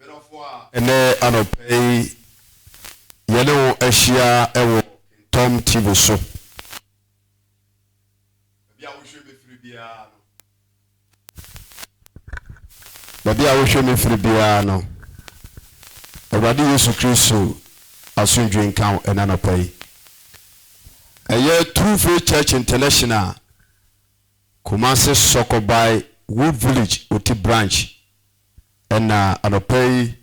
Medɔfo a ɛnɛ anɔpa yi yɛne wo ahyia wɔ Kentɔm TV so, baabi a wohwɛ me firi biara no, baabi a wohwɛ me firi biara no, Awurade Yesu Kristo asomdwoe nka wo ɛnɛ anɔpa yi. Ɛyɛ True Faith Church International Kumasi Sɔkɔbae Wood Village Oti Branch Ɛna anɔpa yi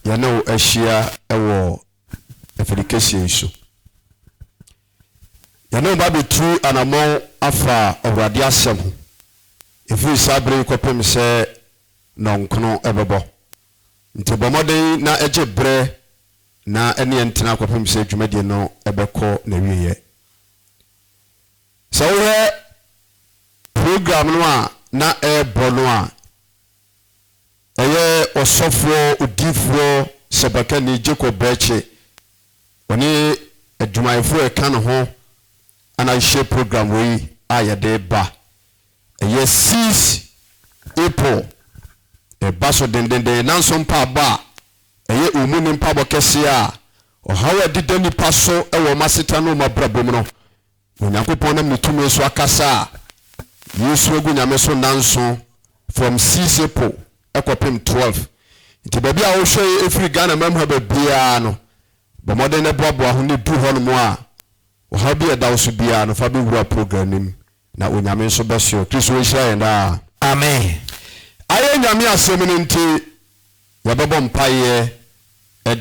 yɛne wo ahyia wɔ afiri kɛseɛ yi so. Yɛne wo ba bɛtu anamɔn afa Awurade asɛm ho, ɛfiri saa berɛ yi kɔpem sɛ nɔnkono bɛbɔ. Nti bɔ mmɔden na gye berɛ na ɛne yɛn ntena kɔpem sɛ dwumadie no bɛkɔ n'awieɛ. Sɛ wohwɛ program no a na ɛrebɔ no a, ɛyɛ ɔsɔfoɔ odiyifoɔ sɛbakani Jacob Bɛɛkye, ɔne adwumayɛfoɔ a ɛka ne ho na yɛhyɛ program wei a yɛde reba. Ɛyɛ Seize April, ɛreba so dendenden, nanso mpaebɔ a ɛyɛ omu ne mpaebɔ kɛseɛ a ɔhaw a ɛdeda nnipa so wɔ wɔn asetena ne wɔn abrabɔ mu no, Onyankopɔn nam ne tumi so akasa a Yesu agu nyame so nnanso from six April kɔpem twelve. Nti baabi a wohwɛ yi ɛfiri Ghana man mu ha baabiara no bɔ mmɔden na boaboa ho na ɛduru hɔ nom a ɔhaw bi a ɛda wo so biara no fa bɛwura program no mu na Onyame nso bɛsoɛ. Kristo nhyira yɛn daa. Amen ayɛ Nyame asɛm no nti yɛbɛbɔ mpaeɛ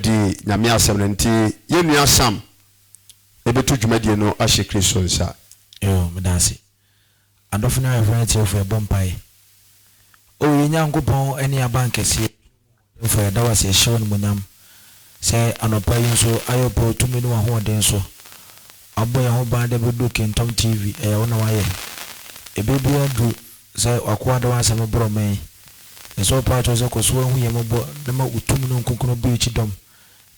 de Nyame asɛm no nti yɛn nua Sam ɛbɛtu dwumadie no ahyɛ Kristo nsa. Yoo meda ase adɔfo ne ayeforo ne atiefo yɛbɔ mpaeɛ oh yɛn Nyankopɔn ne yɛn abankɛseɛ ɔdenfo yɛda wo ase yɛhyɛ wo animuonyam sɛ anɔpa yi nso ayɔ pɛ otumi ne wahoɔden so wabɔ yɛn ho ban de abɛduru Kingtom TV ɛyɛ wo na wayɛ ɛbɛ biara ndu sɛ wakoa de wansɛm rebrɛ ɔman yi yɛsɛ wo paatwoo sɛ kɔso ahu yɛn mmɔbɔ na ma wo tumi no nkonkron bue kyidɔm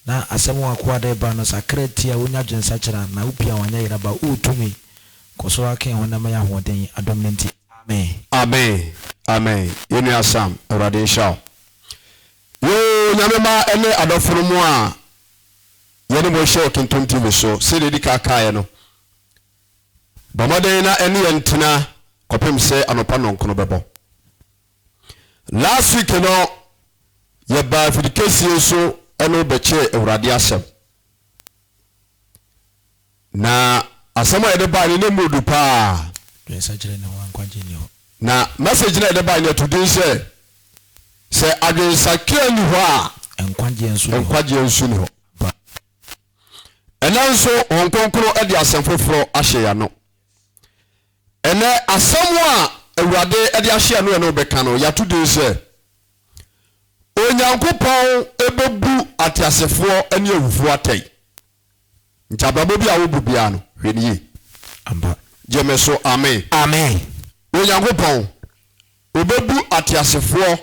Na asɛm w'akoa de reba no, sakra ti a wunya dwensakyera, na wo pia w'anyɛ yera ba. Wo tumi, kɔ so ara ken honam yi ahoɔden, adom no nti. Amen. Amen amen yɛn nua Sam awurade nhyira wo yoo nyame mma ɛne adɔfo no mo a yɛne mo hyɛ otontom tv so sɛdeɛ edi kan kaeɛ no bɔ mmɔden na ɛne yɛn ntena kɔpem sɛ anɔpa nnɔnkono bɛbɔ Last week no yɛbaa afidikesie so ɛne wo bɛkyɛɛ awurade asɛm. Na asɛm a yɛde baa no ne mu du paa. Dwensakyerɛ ne ho ankwagye nni hɔ. Na message no a yɛde baa no yɛto din sɛ sɛ adwensakea nni hɔ a nkwagyeɛ nso nni hɔ. Nkwagyeɛ nso nni hɔ. Ɛnɛ nso Honhom Kronkron de asɛm foforɔ ahyɛ yɛn ano. Ɛnnɛ, asɛm a Awurade de ahyɛ yɛn no yɛne wo bɛka no. Yɛato din sɛ, Onyankopɔn Bɛbu Ateasefoɔ Ne Awufoɔ Atɛn. Nti abrabɔ bi a wobu biara no, hwɛ no yie. Ampa. Gye me so, amen. Amen. Onyankopɔn, Ɔbɛbu ateasefoɔ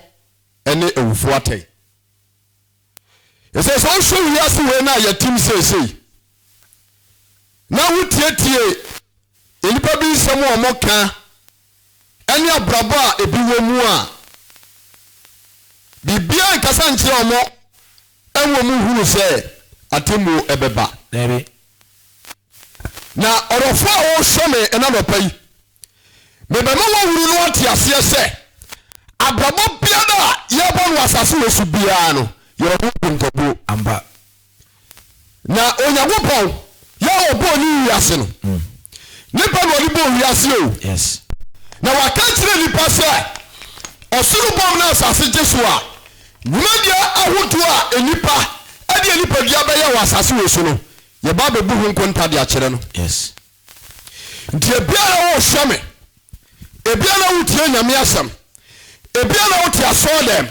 ne awufoɔ atɛn. Ɛsɛ sɛ wohwɛ wiase wei no a yɛtem seesei na wotietie nnipa bi nsɛm a wɔka ne abrabɔ a ebi wɔ mu a biribiara nkasa nkyerɛ wɔn ɛwɔ mu hunu sɛ atemmuo ɛbɛba. Dabi. Na ɔdɔfoɔ a ɔrehwɛ me ɛna nɔpa yi. Mebɛma wɔahunu na wɔate aseɛ sɛ, abrabɔ biara a yɛrebɔ no wɔ asase wɔ so biara no yɛ ɔho nkontabuo ampa. Na Onyankopɔn, yɛ a ɔbɔɔ ne wiase no, mm. nipa na ɔde bɔɔ wiase o. Yes. Na waka kyerɛ nipa sɛ, ɔsoro bɔm na asase gye so a, dwumadie ahodoɔ a nipa ɛde nipadua bɛyɛ wɔ asase wɔ so no, yɛba bɛbu ho nkonta de akyerɛ no. Yes. Nti ebia na wohwɛ me, ebia na wotie Nyame asɛm, ebia na wote asɔɔ dɛm.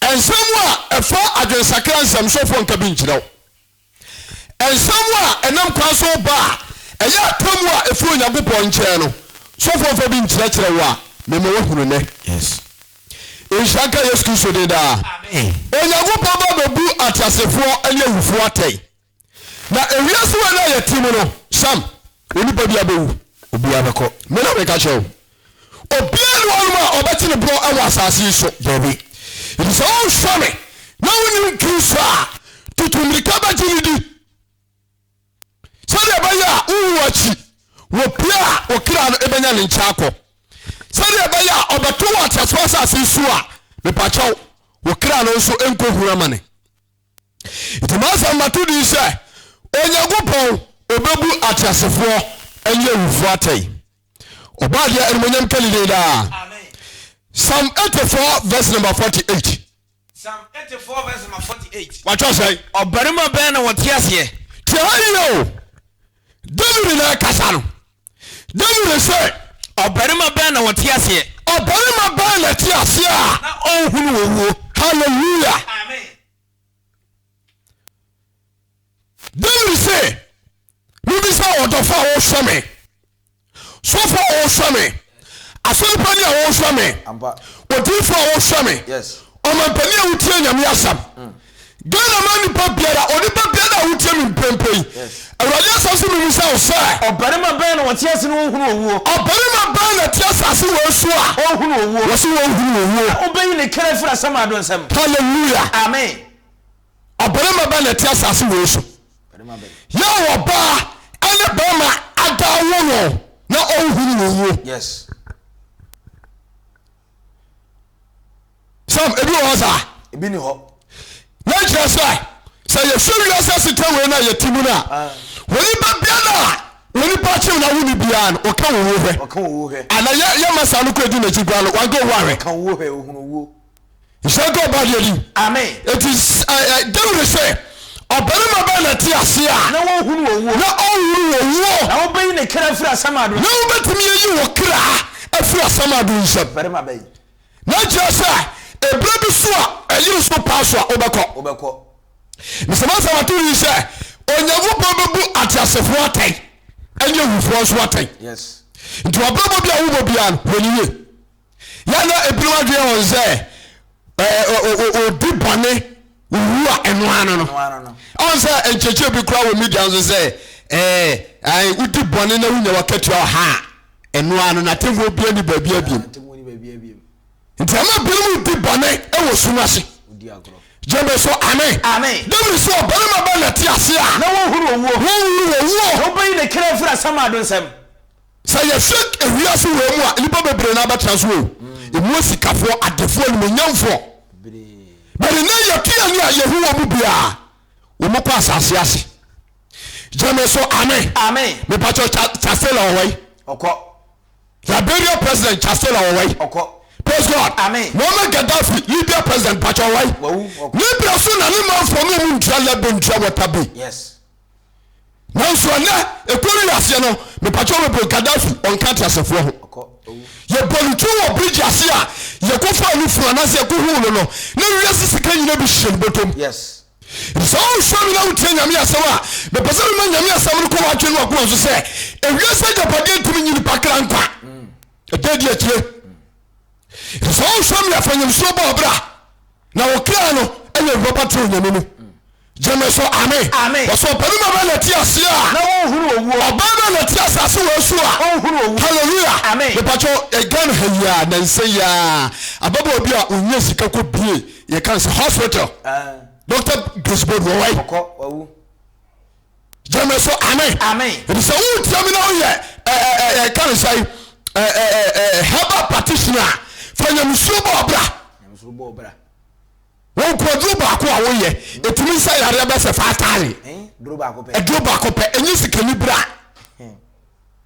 Nsɛm a ɛfa adwensakra nsɛmsofoɔ nka bi nkyerɛ wo. Nsɛm a ɛnam kwan so ba a ɛyɛ atemmu a ɛfiri Onyankopɔn nkyɛn no, sɔfoɔ mfa bi nkyerɛkyerɛ wo a, mema woahunu nnɛ. Yes. Nhyira nka Yesu Kristo din daa. Amen. Onyankopɔn ba bɛbu ateasefoɔ ne awufoɔ atɛn. Na ewiase wei na yɛte mu no, Sam, onipa biara bɛwu. Obiara bɛkɔ. Me na meka kyerɛ wo. Obiara ne wɔnom a ɔbɛte ne borɔ wɔ asase yi so. Dabi. Enti sɛ wonhwɛ me na wonim Kristo a, tutu mmirika bɛgye no di. Sɛdeɛ ɛbɛyɛ a wowu akyi, wɔpie a wo kra no ɛbɛnya ne nkyɛn akɔ. Sɛdeɛ ɛbɛyɛ a ɔbɛto wɔ ateasefoɔ asase yi so a, mepakyɛw, wo kra no nso ɛnkɔhunu amane. nti masɛm mato din sɛ onyankopɔn ɔbɛbu ateasefoɔ ne awufoɔ atɛn ɔbɔ adeɛ animonyam ka ne din daa psalm 84 verse number 48 psalm 84 verse number 48 watwa sɛn ɔbarima bɛn na wɔte aseɛ tiɛ ha yio Dawid na ɛkasa no. Dawid sɛ. Ɔbarima bɛn na ɔte aseɛ. Ɔbarima bɛn na ɛte aseɛ a. Na ɔnhunu owuo. Hallelujah. Amen. Dawid sɛ, mebisa ɔdɔfo a ɔhwɛ me. Sɔfo a wɔhwɛ me, asɔrepa ni a wɔhwɛ me, odinfo a wɔhwɛ me, ɔmampanin a wotie nyame asɛm. Mm. Ghana ma nipa biara, onipa biara a wotie me mprempren yi, Awurade asɛm so memu sɛ wo sɛ. Ɔbarima bɛn na wɔte ase na wɔhunu owuo? Ɔbarima bɛn na te asase wɔ so a. Ɔhunu owuo. Wɔsi wɔhunu owuo. Na wobɛyi ne kra firi asamado nsam. Hallelujah. Amen. Ɔbarima bɛn na ɛte asase wei so? Yɛ a ɔbaa ɛne barima ada awo wɔn na ɔnhunu wɔn wuo. Yes. Sam, ebi wɔ hɔ saa. Ebi ni hɔ. Na nkyerɛ sɛ sɛ yɛhwɛ wiase asetena wei na yɛte mu no a ah. onipa bia no a onipa kyew na wo ne biara no ɔka wo wuo hwɛ. Ɔka wo wuo hwɛ. Ana yɛ yɛ masa no kɔ edi n'akyi gua no wanka owuo ahwɛ. Ɔka wuo hwɛ ohunu wuo. nhyira nka ɔbaa deɛ din amen eti dawid sɛ ɔbarima bɛn na te ase a na wɔnhunu wɔn wuo na ɔnhunu wɔn wuo na wobɛyi ne kra afiri asɛm ado na wobɛtumi ayi wo kra afiri asɛm ado nsɛm barima bɛyi na kyerɛ sɛ ɛberɛ bi so a ɛyere so paa so a wobɛkɔ wobɛkɔ mesɛma sɛ wato yi sɛ onyankopɔn bɛbu ateasefoɔ atɛn ɛnyɛ awufoɔ nso atɛn yes nti wabrabɔ bi a wobɔ biara no hwɛ ne yie yɛ na ebinom adwene wɔn sɛ obi bɔne owu a ɛno ano no ɔn sɛ nkyɛkyɛ bi kura wɔ media nso sɛ ɛɛ wodi bɔne na wonya wakatua ɔha a ɛno ano na atemmuo bia ni baabi abiem nti ɛma binom di bɔne ɛwɔ sum ase jẹmẹ sọ amen. amen. david sọ ọbẹrẹmà bẹ nà ti ase a. na wọn huru owuo. wọn huru owuo. ọbẹ yi ne kẹrẹ fura sama do nsẹm. Sɛ yɛhwɛ wiase wei mu a, nnipa bebree na abɛtena so o. Emu asikafoɔ, adefoɔ, animuonyamfoɔ. But nnɛ yɛte ani a yɛhu wɔn mu biara, wɔn kɔ asase ase. Gyeme so amen. Amen. Mepakyɛ Chastela wɔ wai? Ɔkɔ. Liberia president Chastela wɔ wai? Ɔkɔ. Praise God. Amen. Muammar Gaddafi, Libya president, pakyɛ wɔ wai? Wawu. Ɔkɔ. Ne berɛ so na ne manfoɔ no ɔmu ntua lɛbo ntua wɔta bi. Yes. nanso ɛnɛ ɛkɔ wi aseɛ no mepakyɛ wɔbɛbrɛ gadafi ɔnka teasefoɔ ho yɛbɔ no twi wɔ bridge ase a yɛkɔfa no funu anaasɛ yɛkɔhuu no no na wiase sika nyina bi hyɛ no bɔtɔm sɛ wonhwɛ me na wotie nyame asɛm a mepɛ sɛ mema nyame asɛm no kɔ wɔatwe no wakoma so sɛ ewiase agyapadeɛ ntumi nyi nipa kra nkwa ɛdɛ di akyire Efisɛ ɔnsɔ mmea fa nyamesuro bɔ ɔbra, na ɔkra no yɛ rɔba toro nyame mu. Gyeme so ame. Wɔsɛ ɔbarima bɛ na ɛte aseɛ a. Na ɔnhunu owuo. Ɔbaa bɛ na ɛte asase wɔ so a. Ɔnhunu owu. Hallelujah. Amen. Mepakyɛ Ghana ha yi a nansa yi a ababaawa bi a ɔnyɛ sika kɔ bie yɛka sɛ hospital. Doctor Grace Bodu ɔwɔ yi. Ɔkɔ wawu. gyeme so ame ebisɛ wo tie me na woyɛ ɛka ne sɛe herbal practitioner a fa nyamesuro bɔ ɔbra wɔnkɔ aduro baako a woyɛ ɛtumi sɛ yareɛ bɛsɛ fa atare aduro baako pɛ ɛnyɛ sikani bra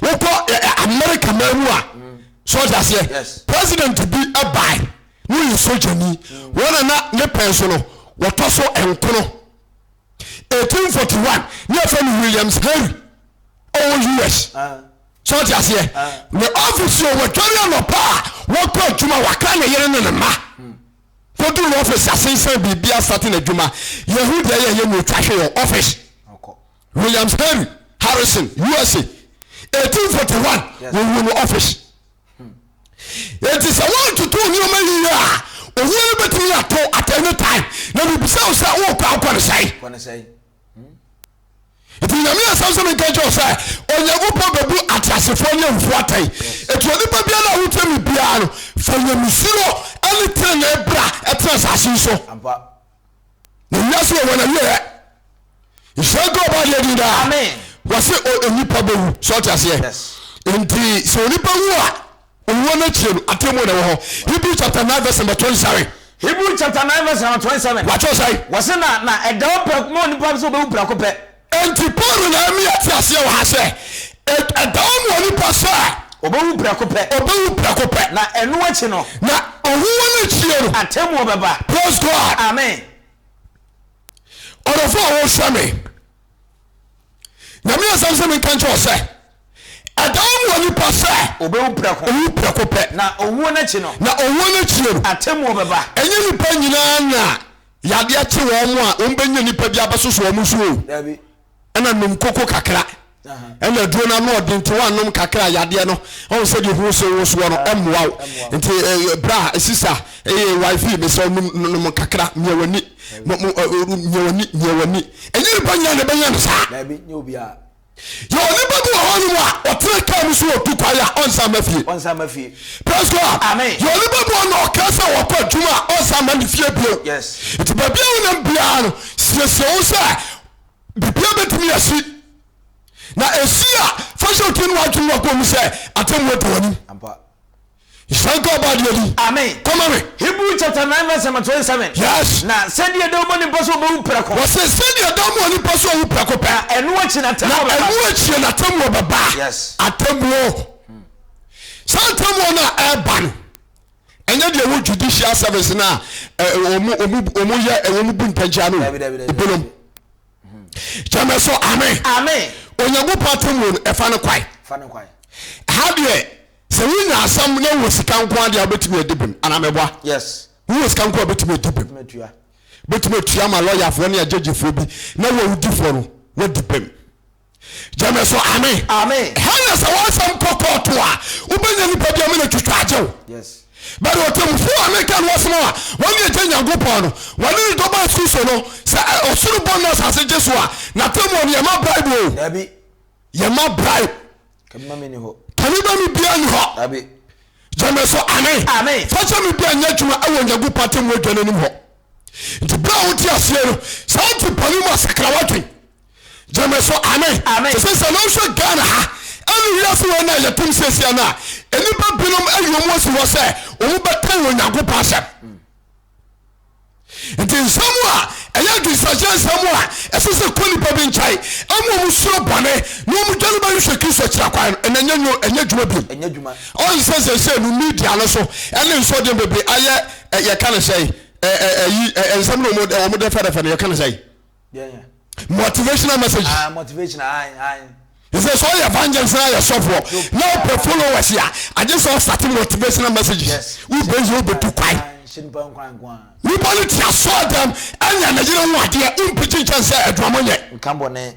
wokɔ america man mu a so ɔte aseɛ president bi ɛbae na ɔyɛ sogyani wɔn a na ne pɛn so no wɔtɔ so nkono 1841 ne ɛfɛ no williams henry ɔwɔ us so ɔte aseɛ ne office yɛ wɔdware anɔpa a wɔkɔ adwuma wakra ne yere ne ne ma kɔduru no office asensan biribia sate no adwuma yɛhu deɛ yɛyɛ ne ɔtwa hwe yɛ office Williams Henry Harrison, USA, 1841, wɔwuo no office. Enti sɛ woantoto nneɛma yie a, owuo no bɛtumi ato at any time. Na mebisa wo sɛ worekɔ akɔ ne sɛe? Nti nyame asɛm sɛ menka kyerɛ sɛ onyankopɔn bɛbu ateasefoɔ ne awufoɔ atɛn. Ɛti onipa biara a wotia me biara no, fa nyamesuro ne tenenee bra ɛtena asase yi so. na wiase wɔ wɔn awieɛ nhyira nka ɔba adeɛ din daa wɔse onipa bɛwu sɛ ɔte aseɛ nti sɛ onipa wu a owuo no akyire no atɛmu na ɛwɔ hɔ hebrew chapter 9 verse number 27 hebrew chapter 9 verse number 27 wɔatwerɛ sɛe wɔse na na ɛda ɔpɛ ma onipa sɛ ɔbɛwu prɛko pɛ Enti Paulo na ɛma yɛte aseɛ wɔ ha sɛ, ɛda hɔ ma onipa sɛ. Ɔbɛwu prɛko pɛ. Ɔbɛwu prɛko pɛ. Na ɛno akyi no. Na owuo no akyire no. Atemmuo bɛba. Praise God. Amen. Ɔdɔfoɔ a wɔhwɛ me. Nyame asɛm sɛ menka nkyɛ wɔ sɛ, ɛda hɔ ma onipa sɛ. Ɔbɛwu prɛko. Ɔwu prɛko pɛ. Na owuo no akyi no. Na owuo no akyire no. Atemmuo bɛba. Ɛnyɛ nipa nyinaa na. Yadeɛ kye wɔn a, wɔn bɛnya nipa bi abɛsoso wɔn so o. Dabi. Ɛna nom koko kakra. Ɛna aduro no ano ɔden nti wɔanom kakra yadeɛ no ɔn sɛ deɛ ho se wo soɔ no ɛmmoa wo. Nti bra sisa ɛyɛ wife mesɛ nom nom kakra mia wani. Mia wani mia wani. Ɛnyɛ nipa nyinaa na ɛbɛnya no saa. Dabi nyɛ obiara. Yɛwɔ nipa bi wɔ hɔnom a ɔtena kaa mu so wɔ tu kwan a ɔnsan mma fie. Ɔnsan mma fie. Praise God. Amen. Yɛwɔ nipa bi wɔ hɔnom a ɔkaa sɛ ɔkɔ adwuma a ɔnsan mma ne fie bio. Yes. Nti baabi a wonam biara no siesie wo sɛ biribiara betumi asi. Na esi a fa hyɛ wo tirim ne w'adwene mu akoma mu sɛ atemmu adi w'anim. Ampa. Nhyira nka ɔbaa deɛ din. Amen. Kɔma me. Hebrew chapter nine verse number twenty seven. Yes. Na sɛdeɛ ɛda mu onipa sɛ ɔbɛwu prɛko. Wɔse sɛdeɛ ɛda mu onipa sɛ ɔwu prɛko pɛ. Na ɛno akyi na atemmuo bɛba. Na ɛno akyie na atemmuo bɛba. Yes. Atemmuo. Saa atemmuo no a ɛreba no, ɛnyɛ deɛ ɛwɔ judicial service no a ɔmo ɔmo ɔmo yɛ ɛwɔ ɔmo bu ntɛnkyɛn no. Dabi dabi dabi. Ebinom. Gyamɛ so amen. Amen. Onyankopɔn atemmuo no ɛfa no kwae. Fa no kwae. Ha deɛ. Sɛ wonya asɛm na wowɔ sika nko ara deɛ a, wobɛtumi adi bem anaa meboa? Yes. Wowɔ sika nko a wobɛtumi adi bem. Wobɛtumi atua. Wobɛtumi atua ama lɔyafoɔ ne agyagyefoɔ bi na wo a wodi fɔ no woadi bem. Gyɛ me so ame. Ame. Ɛha na sɛ w'asɛm kɔ kɔɔto a, wobɛnya nipa bi ama no atwitwa agye wo. Yes. But ɔtɛmmufoɔ a meka no asɛm a wɔne agya Nyankopɔn no, wɔne ne dɔ baa su so no, sɛ ɔsoro bɔ no na asase gye so a, n'atɛmmuo no yɛma bribe o. Dabi. Yɛma bribe. Kanima mi ni hɔ. Kanima mi bia ni hɔ. Dabi. Gyeme so amen. Amen. Fasa mi bia nyɛ adwuma ɛwɔ Nyankopɔn atemmu adwa no anim hɔ. Nti bere a wote aseɛ no, sɛ wote bɔne mu a sakra w'adwen. Gyeme so amen. Amen. Te sɛ sɛ na wohwɛ Ghana ha ɛne wiase wei na yɛtem seesia no a, nnipa binom ayi wɔn asi hɔ sɛ wɔn bɛkan Onyankopɔn asɛm. nti nsɛm a ɛyɛ adwensagyeɛ nsɛm a ɛsɛ sɛ kɔ nnipa bi nkyɛe ɛma ɔmu suro bɔne na ɔmu dwane ba nhwɛ kristo akyira kwan no ɛna ɛnyɛ nwo ɛnyɛ adwuma bio ɛnyɛ adwuma ɔn sɛ sɛ sɛ no media no so ɛne nsɔden bebree ayɛ yɛka no sɛ ɛyi nsɛm no ɔmu dɛfɛdɛfɛ no yɛka no sɛ motivational message ah, motivational ayi ayi ɛsɛ sɛ ɔyɛ evangelist na yɛ sɔfoɔ na ɔpɛ followers a agye sɛ ɔsate motivational messages wobɛyi wobɛtu kwan nipa no te asoɔ dɛm ɛnyɛ ne yere ho adeɛ wompigye nkyɛn sɛ aduamɔ nyɛ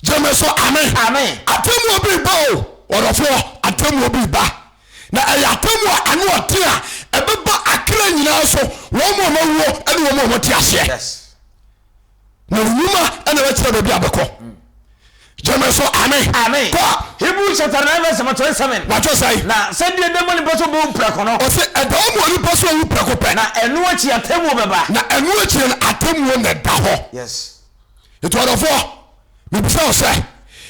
Gyeme so ame. Amen. Atemmuo bi reba o, ɔdɔfoɔ, atemmuo bi reba. Na ɛyɛ atemmuo a ano ɔden a ɛbɛba akra nyinaa so, wɔn mu a wɔawuo ne wɔn mu a wɔte aseɛ. Yes. Na wo nnwuma na ɛbɛkyerɛ baabi a bɛkɔ. Mm. Gyeme so ame. Amen. Kɔ. Hebrews chapter nine verse number twenty seven. Wɔatwerɛ sɛn? Na sɛdeɛ ɛda mu a nipa so bɛwu prɛko no. Ɔse ɛda mu a nipa so awu prɛko pɛ. Na ɛno akyi atemmuo bɛba. Na ɛno akyi no atemmuo na ɛda hɔ. Yes. Nti ɔdɔfoɔ, mebisa wo sɛ,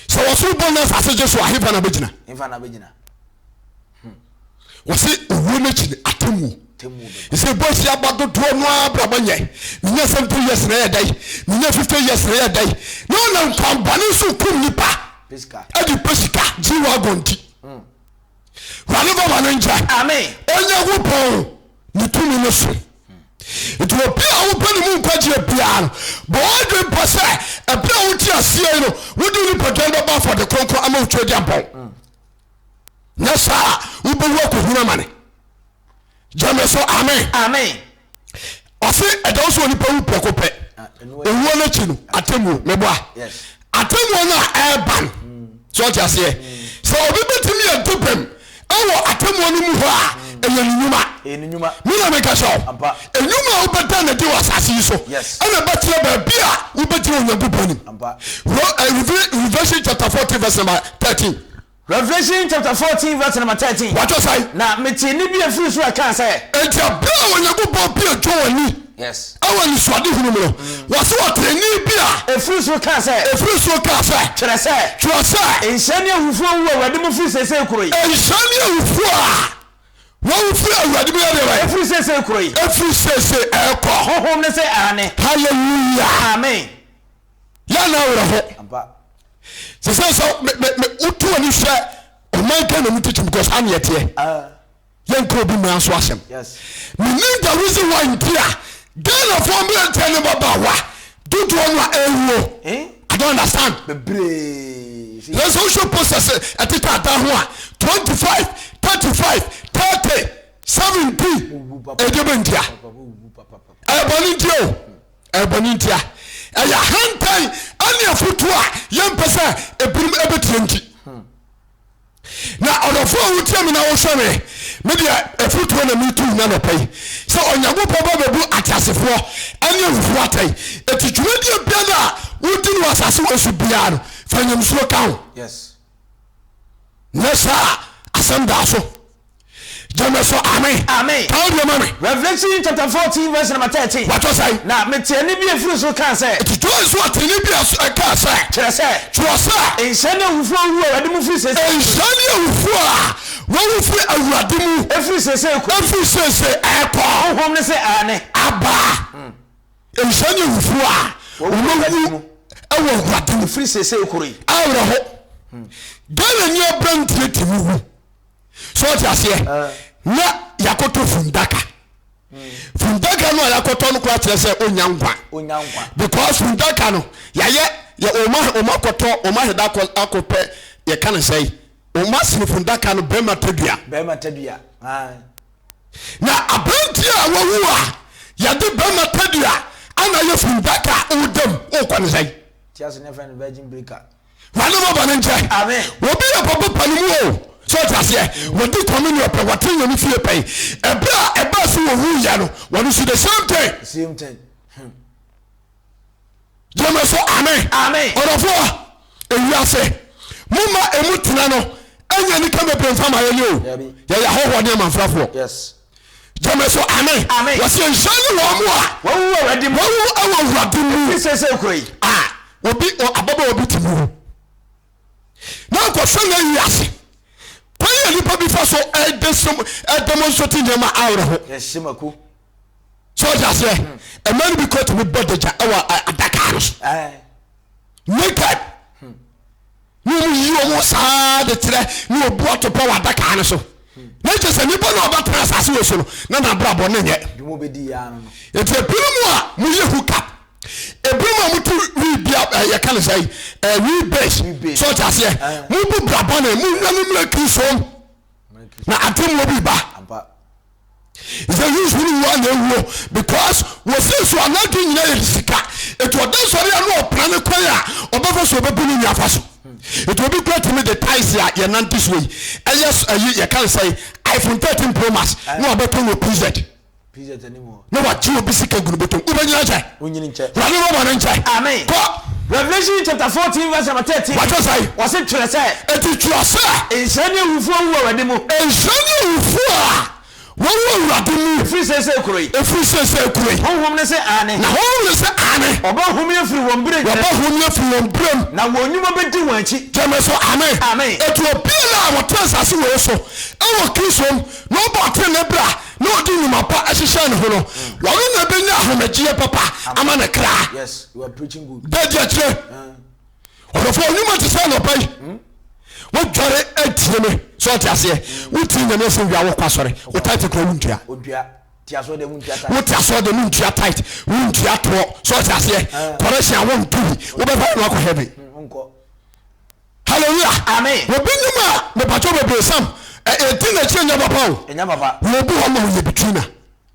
sɛ wɔsoro bɔ ne asase gye so a, hefa na bɛgyina? Hefa na bɛgyina? Hmm. Wɔse owuo no akyi no atemmuo. Ɛsɛ bɔ si aba dodoɔ no ara brabɔ nyɛ. Menya 70 years na ɛyɛ dɛn? Menya 50 years na ɛyɛ dɛn? Na ɔnam kwan bɔne so kum nipa. Ɛde pɛ sika, G-Wagon nti. Hmm. wurade fa bɔne nkyɛ onyankopɔn ne tumi no so nti obi a wopɛ ne mu nkwagyeɛ biara no bɔ wadwe mpa sɛ ɛberɛ a wote aseɛ yi no wode nipadwan bɛbɔ afɔde kronkron ama wotwa agya bɔn nyɛ saa a wobɛwu akɔhunu amane gyamɛ so amen ɔse ɛda wo sɛ onipa wu prɛko pɛ owuo no akyi no atemmuo meboa atemmuo no a ɛreba no sɛ ɔte aseɛ sɛ obi bɛtumi yɛ do bɛm ɛwɔ atemmuo no mu hɔ a ɛyɛ ne nnwuma mena meka sɛ ɛnwuma a wobɛda na di wɔ asase yi so ɛna bɛkyerɛ baabi a wobɛgyina onyankopɔn nim eh, revelation chapter 14 verse number 13 Revelation chapter fourteen verse number thirteen. Wɔatwerɛ sɛ. Na metee nne bi a ɛfiri soro a ɛkaa sɛ. Enti ɛberɛ a Onyankopɔn buee John ani. Yes. Wɔ anisoadehunu mu no, wɔse ɔtee nne bi a. Ɛfiri soro kaa sɛ. Ɛfiri soro kaa sɛ. Twerɛ sɛ. Twerɛ sɛ. Nhyira ne ahufoɔ a wɔwu wɔ Awurade mu firi seesei kuro yi. Nhyira ne ahufoɔ a wɔwu firi Awurade mu yɛ deɛ bɛn? Ɛfiri seesei kuro yi. Ɛfiri seesei ɛrekɔ. Honhom no se, Aane. Hallelujah. Amen. yɛ na awerɛho sɛ sɛ sɛ wotu ani hwɛ ɔman ghana mu titi because ha neɛ teɛ ah. yɛnkɔ obi mmara so asɛm menim the reason why nti a ghanafoɔ mmerɛnteɛ ne babaawa dodoɔ no a ɛwuo eh? i don't understand yɛ sɛ wohwɛ process ɛtete ada ho a 25 35 30 17 ɛdeɛ bɛntia ɛyɛ bɔne nti o ɛbɔ ne ntia ɛyɛ ahantan ɛne afotuo a yɛmpɛ sɛ ebinom ɛbɛtie nti na ɔdɔfo a wotie me na wohwɛ me me deɛ afotuo na metu nya nɔpɛ yi sɛ onyankopɔn ba bɛbu ateasefoɔ ɛne awufoɔ atɛn ɛti dwumadie bia no a wodi no asase wɔ so biara no fa nyamsuro ka ho yes. nyɛ saa asɛm daa so gyeme so ame ame ka wo deɛ ma me Revelation chapter fourteen verse number thirteen wɔatɔ sɛe na metee nne bi a ɛfiri soro kaa sɛ. ɛti tɔɔ nso ɔtee nne bi a ɛkaa sɛ. kyerɛ sɛ. kyerɛ sɛ. nhyira ne awufoɔ a wɔwu awurade mu firi seesei kɔ. nhyira ne awufoɔ a wɔwu firi awurade mu. ɛfiri seesei kɔ. ɛfiri seesei ɛkɔ. honhom no sɛ aane. abaa. Hmm. Nhyira ne awufo a wɔawu wɔ Awurade mu. Ɛfiri seesei koro yi. Awerɛho. Hmm. Dɛn na ni aberanteɛ tumi wu? So ɔte aseɛ? Ah. Na yɛakɔtɔ fundaka. Hmm. Fundaka no a yɛakɔtɔ no koraa kyerɛ sɛ ɔnya nkwa. Ɔnya nkwa. Because fundaka no yɛayɛ yɛ ɔma ɔma akɔtɔ ɔma aheda akɔ akɔpɛ yɛka no sɛe. Ɔma sini fundaka no bɛrima tadua. Bɛrima tadua. Ah. Na aberanteɛ a wawu a yɛde bɛrima tadua ana yɛ funu bɛka a ɔda mu ɔkɔ ne sɛn. Ti ase ne fɛn no virgin breaker. Wane mo bɔne nkyɛ. Obi yɛ papa pa no mu o. So ɔte aseɛ. Wɔdi communion pɛ, wɔte yɛn no fie pɛn. Ɛberɛ a ɛbaa so wɔwu yɛ no, wɔn nso the same thing. Same thing. Hmm. gyeme so amen amen ɔdɔfoɔ ewiase moma emu tena no ɛnyɛ nika bebree nfa ma yɛnyɛ o yɛyɛ ahɔhoɔ ne amanfrafoɔ gyeme so amen wɔsɛ nhyɛ ne wɔn mu a wɔwu wɔ awurade mu wɔwu wɔ awurade mu sɛ sɛ kuro yi a obi ababa obi ti mu na ankɔhwɛ n'ayi ase. Kwan a nnipa bi fa so demonstrate nneɛma awerɛho. Yɛhyɛ mako. Sɛ ɔde aseɛ, ɛmaa no bi kɔ tumi bɔ dagya wɔ adaka no so. Naked. Ne wɔn yi wɔn saa de kyerɛ ne wɔbu atopɛ wɔ adaka no so. Na kyerɛ sɛ nipa na ɔbɛtena asase wɔ so no na n'abrabɔ ne nyɛ. Eti ebinom a moyɛ hookup. ebinom a wɔte wibea eh, yɛka no sɛ eh, wibase so ɔte aseɛ eh. mobu braba no mu nya no mmerɛ kisom na atemmuo bi ba sɛ yesu no wua na ewuo because wɔsi so anadi nyina yɛ sika etu ɔda sɔre a na ɔpra ne kwan a ɔbɛfa so ɔbɛbu ne nyafa so etu obi kura tumi de taisi a yɛnante so yi ɛyɛ ɛyi yɛka no sɛ iphone thirteen pro max na ɔbɛtɔ wɔ pz. na wagye obi sika gu no bɔtɔm wobɛnyina nkyɛ wurade no ma no nkyɛ kɔ Revelation chapter fourteen verse number thirteen. Wàá sọ yìí. Wọ́n sì twerɛ sɛ. Ètò twerɛ sɛ. Nhyira ni awufo a wɔwɔ awurade mu. Nhyira ni awufo a wɔwɔ awurade mu. Efiri sese kuro yi. Efiri sese kuro yi. Honhom ne se aane. Na honhom ne se aane. Ɔbɔ hom yɛ firi wɔn bere. Ɔbɔ hom yɛ firi wɔn bere mu. Na wɔn nnwuma bɛ di wɔn akyi. Gyeme so aame. Aame. Etu obi a wɔtena asase wɔ so ɛwɔ Kristo mu na ɔbɔ ɔtene ne bra. na ɔde nnwuma pa hyehyɛ ne ho no wɔno na ɛbɛnya ahomegyeɛ papa ama ne kra dadi akyirɛ ɔdɔfoɔ nnwuma te sɛ nɔpa yi hmm? wodware atie me sɛ ɔte aseɛ hmm. wotie nyame asɛm wia wokɔ asɔre wo tate kora wontua wote asɔre de mentua tit wontua toɔ sɛ ɔte aseɛ kɔrɛhyɛ a wontohi wobɛfa no akɔ heaven hmm, Hallelujah. Amen. Obi nim a mepatwa bebree sam ɛ edi n'akyire nyɛ papa o. Enya papa. Wɔ obi hɔ ma oyɛ betwina.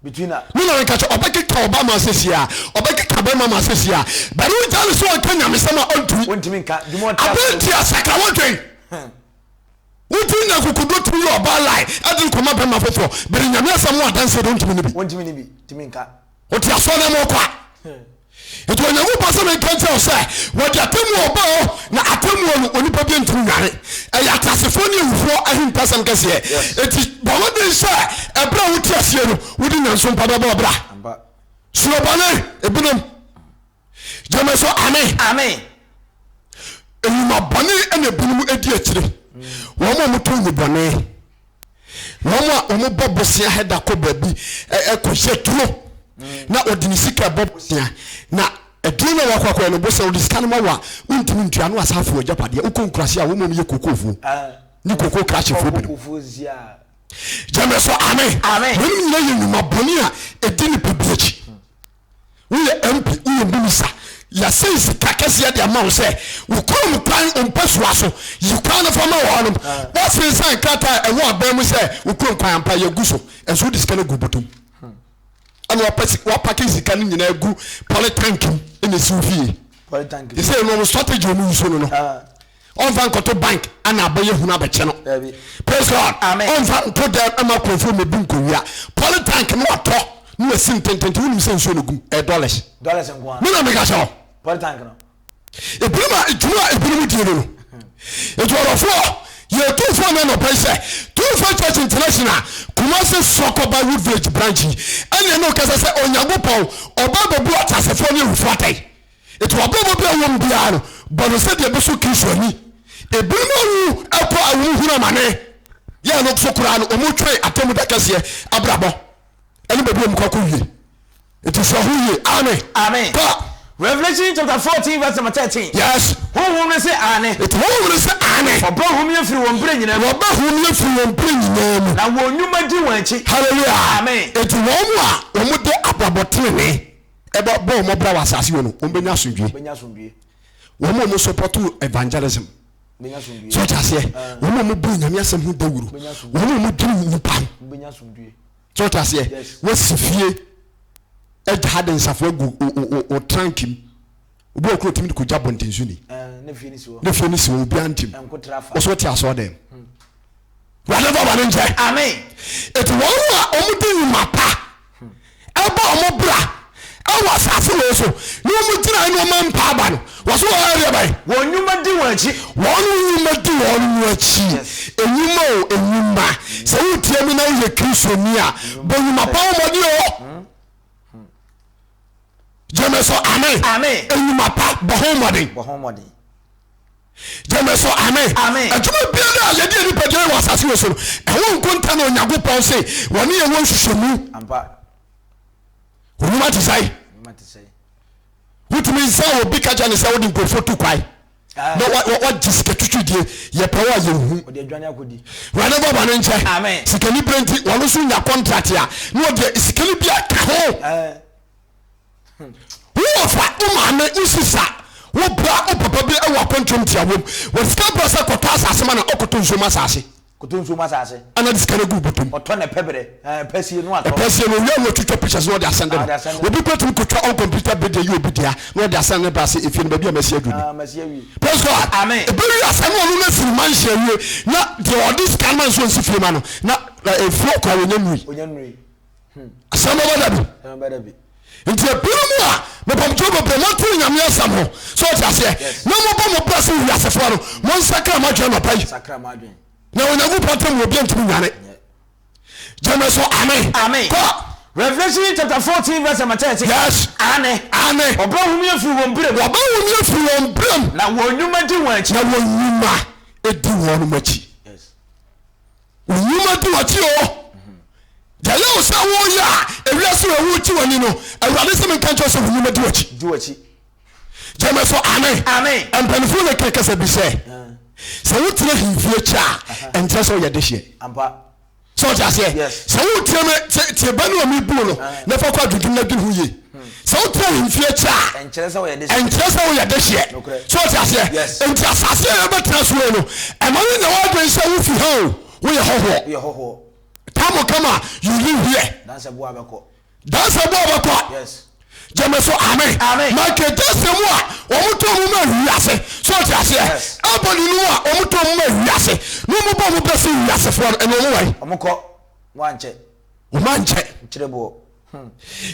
Betwina. Ne na nka kyɛ ɔbɛ keka ɔba ma asesi a ɔbɛ keka bɛma ma asesi a bɛri wo gya ne so ɔnka nyamesɛm a ɔntumi. Ɔntumi nka. Dwuma ɔte aso. Abɛn ti asakra wo dwen. Wo dwen nya kokodo tumi yɛ ɔba lai ɛde kɔma bɛma foforɔ bɛri nyame asɛm ho adanseɛ de ɔntumi ne bi. Ɔntumi ne bi. Tumi nka. wɔde asɔre na mɔkɔ a nti onyankopɔn sɛ menka nkyerɛ wo sɛ wɔde atemmuo ɔba o na atemmuo no onipa bi ntumi nware ɛyɛ ateasefoɔ ne awufoɔ ahintasɛm kɛseɛ ɛti bɔmmɔden sɛ ɛberɛ a wote aseɛ no wode nyanso mpa bɛbɔ ɔbra sorobɔne ebinom gyeme so amen amen nnwuma bɔne ɛna ebinom edi akyire wɔn a wɔto nnubɔne wɔn a wɔn bɔ bosia hɛda kɔ baabi ɛkɔ hyɛ duro na ɔde ne sika bɔ bosia na ɛduro na wakɔ akɔyɛ no bosia ɔde sika no ma wa wontumi ntua no asafo agyapadeɛ wokɔ nkurase a wɔn mu yɛ kokofoɔ ne koko krahyefoɔ binom gyeme so amen wɔn nyinaa yɛ nnwuma bɔne a ɛdi nipa bi akyi Woyɛ MP, woyɛ minister, yɛasɛn sika kɛseɛ de ama wo sɛ wo kurom kwan wo mpasua so, yi kwan no fa ma wɔnom. Woasere nsan krataa a ɛwɔ aban mu sɛ wo kurom kwan ampa yɛagu so, nso wode sika no agu bɔtɔ mu. Ɛna wapɛ si, wapake sika no nyinaa agu polytank mu ɛna ɛsi wo fie. Polytank. Ɛsɛ ɛno wɔn strategy wɔn yi so no no. Ɔnfa nkɔto bank ana abɛyɛ hunu abɛkyɛ no. Dabi. Praise God. Amen. Ɔnfa nto dɛm ɛma kurɔfoɔ mmebu nkowia. Poly tank no watɔ na wasi no tententen wonim sɛ nsuo na egum ɛyɛ dollars. Dollars nko ara. Me na meka kyerɛ wo. Poly tank no. Ebinom a edwuma a ebinom die no no. Edwuadɔfoɔ yɛ etumfoɔ na anɔpa yi sɛ True Faith Church International Kumasi Sɔkɔba Wood Village branch yi ɛna ɛna okasa sɛ Onyankopɔn ɔba abɛbu ateasefoɔ ne awufoɔ atɛn. Enti w'abrabɔ bia ɛwɔ mu biara no, bɔ no sɛdeɛ ɛbɛsɔ Kristo ani. Ebinom awu kɔ a wɔhunu amane, yɛ a no so koraa no wɔtwɛn Atemmu Da kɛseɛ abrabɔ ne baabi a wɔkɔ akɔwie. Enti sua ho yie. Amen. Amen. Kɔ. Revelation chapter fourteen verse number thirteen. Yes. Honhom no se aane. Eti honhom no se aane. Wɔbɛhome afiri wɔn berɛ nyinaa mu. Wɔbɛhome afiri wɔn berɛ nyinaa mu. Na wɔn nnwuma di wɔn akyi. Hallelujah. Amen. Eti wɔn a wɔde abrabɔ tenenee. ɛbɔ bɔ wɔn bra wɔ asase wɔ no wɔn bɛ nya asomdwie wɔn a wɔn sɔpɔto evangelism so ɔte aseɛ wɔn a wɔn bu nyame asɛm ho dawuro wɔn a wɔn duru nipa so ɔte aseɛ wɔsi fie ɛgya ha de nsafo agu ɔtrankim. Obi wɔ hɔ kura otumi de kogya bɔntenso ni. Ne fie ne si hɔ. Ne fie ne si hɔ obiara ntim. Nkotrafa. Wɔsɔ ti asɔ dɛm. Hmm. Wade fa bɔne nkyɛ. Amen. Eti wɔn a wɔn di nnwuma pa hmm. ɛbɔ wɔn bra ɛwɔ asase wɔn so ne wɔn gyina ne wɔn mpa aba no wɔso wɔn ayɛ bɛn. Wɔn nnwuma di wɔn akyi. Wɔn nnwuma di wɔn mu akyi. Enyuma o enyuma sɛ wotie mu na woyɛ kristu ni a bɔ nnwuma pa wɔn ɔde o. gyeme so ame enyuma pa bɔ ho mmɔden gyeme so ame adwuma biara a yɛde nipadua yɛ wɔ asase wɔ so no ɛho nkonta na onyankopɔn se wɔne yɛ wɔ nhwehwɛmu onwuma te sɛe wotumi nsa obi ka kyɛ ne sɛ wode nkurɔfoɔ tu kwae na wagye sika twitwi deɛ yɛpɛ wo a yɛhu wurade fa ba no nkyɛ sikani berɛ nti wɔno nso nya contract a na ɔdeɛ sikani bi aka ho woɔfa wo maame wo sisa wo bra wo papa bi wɔ akɔntrom tia wom wɔde sika bra sɛ kɔtɔ asase ma na ɔkɔtɔ nsuom asase Koto nsuo mu asase. Ɛna ɔde sika no gu bɔtɔ mu. Ɔtɔ na ɛpɛ berɛ. Ɛɛ pɛ sie no atɔ. Ɛpɛ sie no owia na ɔtwitwa pictures na ɔde asɛnde no. Obi bɛtumi kɔtwa on computer bed ayi obi dea na ɔde asɛnde no ba sɛ efie no baabi a masi aduru ni. Aa masi awie. Praise God. Amen. Ɛbɛwie a sɛ na ɔno no asiri mansion awie na deɛ ɔde sika no ma no nso ɔnsi fie ma no na ɛfiri ɔkɔ a ɔnya nnurui. Ɔnya nnurui. asan bɛba da bi nti ebinom a mepamkyɛw bebree mɔnte nyame asɛm ho sɛ ɔte aseɛ na mobɔ mo bra sɛ wiasefoɔ no monsakra mo adwene nɔpa yi na onyankopɔn tam obi ntumi nwane gyeme so amen kɔ Revelation chapter fourteen verse number thirty. Yes. Ane. Ane. Ọba wumi efiri wɔn bere mu. Ọba wumi efiri wɔn bere mu. Na wɔn nnwuma di wɔn akyi. Na wɔn nnwuma di wɔn akyi. Wo nnwuma di w'akyi o. Deɛ ɛyɛ wo sɛ woyɛ a ewiase wɔ ɛho gye w'ani no, Awurade sɛ menka nkyerɛ sɛ wo nnwuma di w'akyi. Di w'akyi. Gyeme so ame. Amen. Mpanimfoɔ na ɛka kasa bi sɛ sɛ wotena hemfie kyɛ a ɛnkyerɛ sɛ woyɛ dehyeɛ. Ampa. Sɛ ɔte aseɛ. Yes. Sɛ wotiam tie bɛ no a mebuo no na fa kɔ adwendwene no adwene ho yie. sɛ wotena ahemfie kyɛ a ɛnkyerɛ sɛ woyɛ dehyeɛ ɛnkyerɛ sɛ woyɛ dehyeɛ so ɔte aseɛ nti asase a yɛbɛtena so no ɛma no nya woadwen sɛ wofi ha o woyɛ hɔhoɔ tamo kama you live here dansɛ boa bɛkɔ gyeme so amen makedase mu a wɔmotɔ mu ma wiase so ɔte aseɛ abɔne no mu a wɔmotɔ mu ma wiase na wɔmobɔ mo bɛse wiasefoɔ no ɛne wɔn wae wɔmokɔ wɔankyɛ wɔmankyɛ nkyerɛ boɔ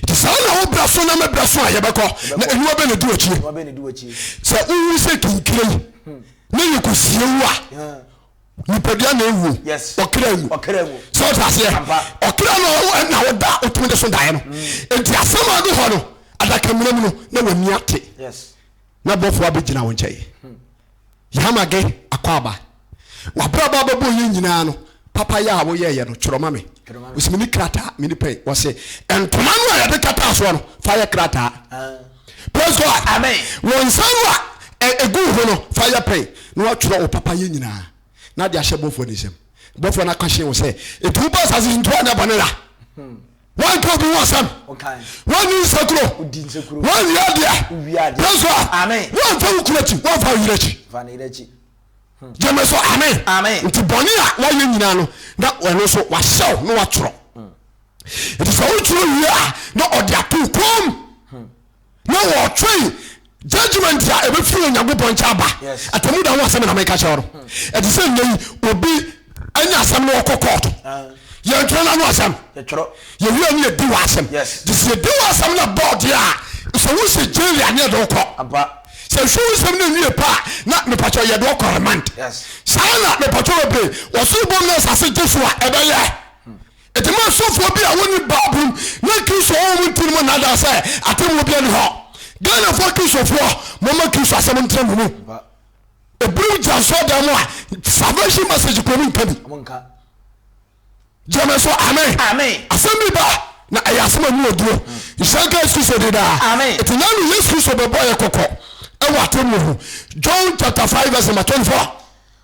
Nti saa na wo berɛ so na me berɛ so a yɛbɛkɔ na aniwa bɛ na ɛdi wakyie. Sɛ wowu sɛ kinkire yi hmm. ne yɛ kɔsie wu a nipadua na ɛwuo ɔkra nwu sɛ wote aseɛ ɔkra no na woda wotumi de so daeɛ no hmm. nti asɛm a do hɔ no adakamena mu no na w'ani ate na bɔfoɔ abɛgyina wo nkyɛe hmm. Yamage Akwaaba, W'abrabɔ abɛbɔ yɛn nyinaa no, papayɛ a woyɛeɛ no, twerɛ ma me. Ɔsi meni krataa, meni pɛn. Wɔse, ntoma no a yɛde kataa soɔ no, fa yɛ krataa. Praise God. Amen. Wo nsa no a ɛgu wo ho no, fa yɛ pɛn na watwerɛ wo papayɛ nyinaa na de ahyɛ bɔfoɔ no nsam. Bɔfoɔ no aka akyerɛ wo sɛ, enti wobaa asase so nti woanyɛ bɔne da. wanka obi ho asɛm wanni nsekuro wanwie adeɛ yɛ so a wamfa wo kuro akyi wamfa wo yerɛ akyi gyeme so amen nti bɔne a wayɛ nyinaa no na ɛno so wahyɛw na watwerɛ nti sɛ wotwerɛ wie a na ɔde ato kom na wɔtwɛn judgment a ɛbɛfiri onyankopɔn nkyɛn aba atamu da ho asɛm na meka kyerɛ no ɛte sɛ nnɛ yi obi anya asɛm no ɔkɔ kɔɔto ah. yɛntwerɛ no ano asɛm yɛwura ne yɛdi wɔ asɛm gye sɛ yɛdi wɔ asɛm no bɔɔdeɛ a sɛ wo sɛ gyeli a ne yɛde wokɔ sɛ hwɛ wo nsɛm no nwie pa a na mepakyɛ yɛde wokɔ remand saa na mepakyɛ bɛbree wɔsoro bom no asase gye so a ɛbɛyɛ Enti ma asɔfoɔ bi a wɔnni Bible mu na Kristo wɔ wɔn nti no mu nnaadaa sɛ atemmuo biara ni hɔ. Ghanafoɔ Kristofoɔ, momma Kristo asɛm ntena mo mu. Ebiri wo gyina asɔɔdan mu a, salvation message kuro mu nka bi. Gyeme so amen. Amen. Asɛm bi ba na ɛyɛ asɛm a mu wɔ duro. Nhyira nka Yesu Kristo de daa. Amen. Eti na no Yesu Kristo bɛbɔ yɛ kɔkɔ ɛwɔ atemmuo ho. John chapter five verse number twenty four.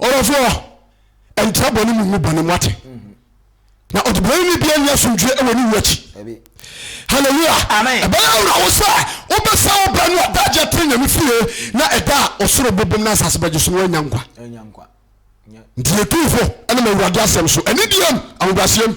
Ɔdɔfoɔ, ɛntra bɔne mu ngu bɔne mu ate. Na ɔdebɔne ne bia nni asomdwoeɛ wɔ ne wu akyi. Hallelujah. Ɛbɛyɛ awura wo sɛ wobɛsɛ wo bra no a da agya tiri nyame fie na ɛda a ɔsoro bobom na asase bɛgye so no woanya nkwa. Nti yɛtumfo ɛnam awurade asɛm so anidie mu ahobrɛaseɛ mu.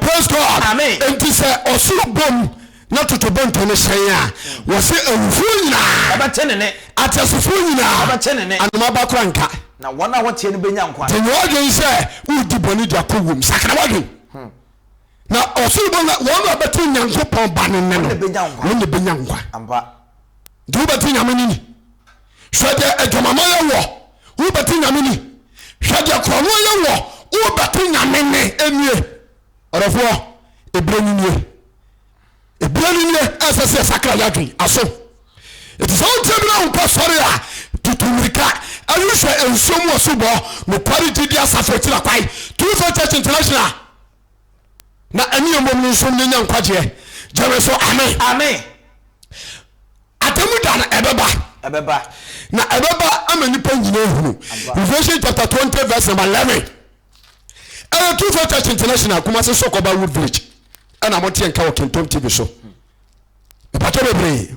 Praise God. Amen. Enti sɛ ɔsoro bom na totorobɛnto no hyɛn a, wɔse awufoɔ nyinaa, Wɔbɛte ne nne. ateasefoɔ nyinaa, Wɔbɛte ne nne. anoma ba koraa renka. Na wɔn a wɔteɛ no bɛnya nkwa. Nti nyɛ w'adwene sɛ woredi bɔne de akɔ wuom. Sakra w'adwene. Na ɔsoro bom na wɔn a wɔbɛte Onyankopɔn Ba no nne Wɔn no, na ɛbɛnya nkwa. wɔn na ɛbɛnya nkwa. Ampa. Nti wobɛte Nyame no nni. Hwɛ deɛ adwamammɔ yɛ woɔ, wobɛte Nyame ni. Hwɛ deɛ korɔnoɔ yɛ woɔ, wobɛte Nyame nne. Ɛnnie, ɔdɔfoɔ, ɛberɛ no nie. Ɛberɛ no nie a ɛsɛ sɛ yɛsakra yɛn adwene, aso. Enti sɛ wontie me na wonkɔ sɔre a, tutu mmirika, ɛne hwɛ nsuo mu asubɔ, Nokware Gyidie Asafo Akyiri Akwan, True Faith Church International. Na ɛne yɛn mmom no nso yɛnya nkwagyeɛ. Gyeme so, Amen. Amen. Atemu da no ɛbɛba. Ɛbɛba. Na ɛbɛba ama nipa nyinaa ahunu. Revelation chapter twenty verse number eleven. Ɛyɛ True Faith Church International Kumasi Sɔkɔba Wood Village. Ɛna mo teɛ nka wɔ Kentom TV so. Ìpàtọ́ bebree.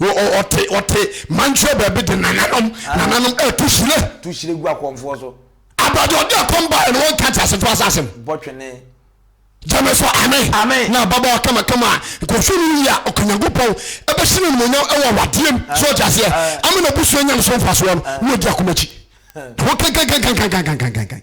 Ɔte ɔte mankyerɛ baabi de nananom ah. nananom ɛtu hyire. Tu hyire gu akɔnfoɔ so. Abadi ɔde akɔn ba ɛna wɔn kante asefo asasem. Bɔtwene. Gyame so ame. Ame. Na ababaawa kama kama nkɔhwɛ no yie a ɔkanyankopɔn ɛbɛhyɛ no animonyam ɛwɔ awadeɛ mu. Ah. So ɔte aseɛ. Ah. Ama na busua nya no so mfasoɔ no. Na ɔdi akomakyi. Ho kankankankankankankankan.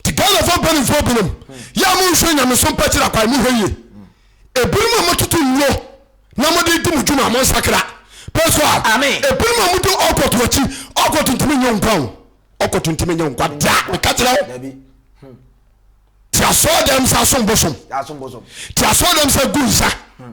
nti ghanafoɔ mpanimfoɔ binom yɛ a monhwɛ nyamesom pa kyerɛ kwae mohwɛ yie ebinom a mototo nnuro na mode di mo dwuma mo nsakra pɛ so a ebinom a mode ɔkɔto akyi ɔkɔto ntumi nyɛ nkwa o ɔkɔto ntumi nyɛ nkwa da meka kyerɛ wo hmm. ti asɔɔ dɛm sɛ asombosom ti asɔɔ dɛm sɛ gu nsa hmm.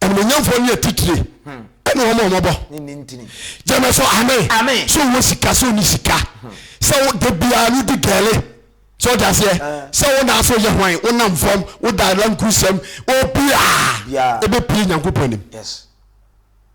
animonyamfoɔ ne atitire ɛne wɔn a wɔbɔ gyeme so ame so wɔ sika sɛ ɔni sika sɛ wo da biara no di gɛle sɛ ɔde aseɛ sɛ wo na so yɛ hwan wo nam fam wo da lankusɛm obiaa ɛbɛpie nyankopɔn anim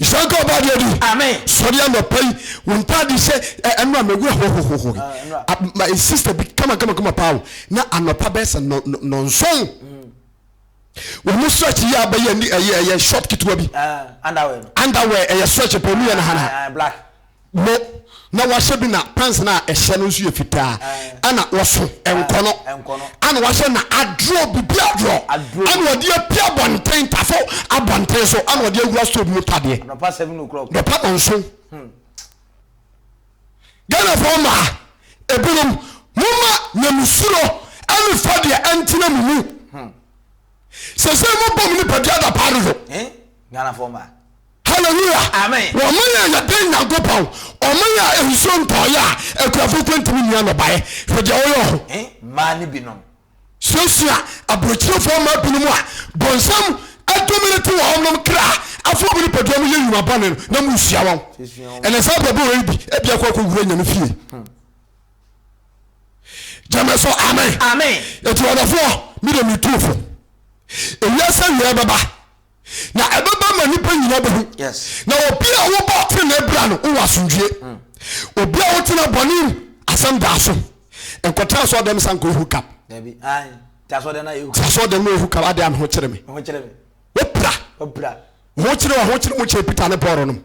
nhyira nka ɔbaa deɛ di sɔre anɔpa yi wo ntaade hyɛ ɛno a mawura hohohoho my sister bi kama kama kama paa na anɔpa bɛyɛ sɛ nɔnson wɔn mo stretch yi a bɛyɛ ɛyɛ ɛyɛ short ketewa bi underwear ɛyɛ stretch pɛ mu yɛ na hana mo na wahyɛ bi na pants na ɛhyɛ no nso yɛ fitaa ɛna wɔso nkɔnɔ ɛna wahyɛ na aduro bibi aduro ɛna wɔde api abɔnten tafo abɔnten so ɛna wɔde awura store bi mu tadeɛ nɔpa nso hmm. ghanafoɔ maa ebinom moma nyamesuro ɛne fa deɛ ɛntena mu mu hmm. sɛ sɛ mobɔ mu nipadua da paa dodo eh? Hallelujah! Amen! Na ɔma yɛn yɛ dɛn Nyankopɔn? Ɔma yɛ a nsuo ntɔɔ yɛ a akuafoɔ mpo ntumi nni anɔbaeɛ. Hwɛ deɛ ɔyɛ wɔ ho. Eh, mmaa no binom. Suasua aburokyirefoɔ mmaa binom a bonsam adominate wɔn nom kra afa wɔn nipadua mu yɛ nnwuma bɔne no na mosua wɔn. Ɛnɛ saa abrabɔ wei bi ebia kɔ akɔwura nyame fie. Hmm. Gyama so amen. Amen. Eti ɔdɔfoɔ, mi de mi tu fo. Ewiase awiɛ bɛba. na ɛbɛba ma nnipa nyina bɛhu. Na obi a wobɔ ɔtene bra no, wowɔ asomdwie. Hmm. Obi a wotena bɔne mu, asɛm daa so. Nkɔtena asɔɔdɛm sa nkɔ ehu kap. Ti asɔɔdɛm no ehu kap, adeɛ a me ho kyere me. Wopira. Ho kyere wɔ ho kyere mo kyere Peter ne Paul nom.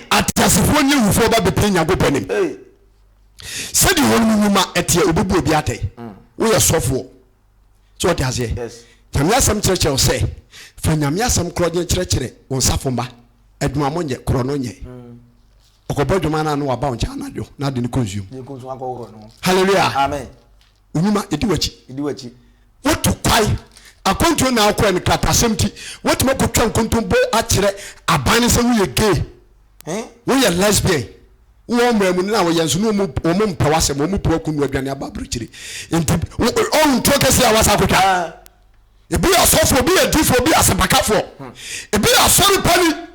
Ateasefoɔ nye awufoɔ ba bepie Nyankopɔn anim, sɛdeɛ wɔnom nwuma teɛ, Obebu obi atɛn. Mm. Woyɛ sɔfoɔ. So wɔte aseɛ? Yes. Nyame asɛm kyerɛkyerɛ wo sɛ, fa Nyame asɛm korɔ gye kyerɛkyerɛ wo nsafo mma. Adwuma mo nyɛ, korɔ no nyɛ. Mm. Ɔkɔbɔ adwuma no ano waba wo nkyɛn anadwo na ade no kɔ nsuom. Hallelujah. Amen. Onwuma edi w'akyi. Edi w'akyi. Wotu kwae. Akwantuo na akɔɛ no kratasɛm ti. Wotumi akɔtwa nkontompo akyerɛ aban no sɛ woyɛ gay. Eh? Woyɛ lesbian. Wowɔ mmara mu no na wɔyɛ nso na wɔn mpɛ w'asɛm. Wɔn pɛ w'akunu no aduane aba aburokyire. Nti ɔhu ntuo kɛseɛ a wasa akɔtwa. Ah. Ebi yɛ ɔsɔfoɔ, ebi yɛ difoɔ, ebi yɛ asɛmpakafoɔ. Hmm. Ebi yɛ asɔre pani.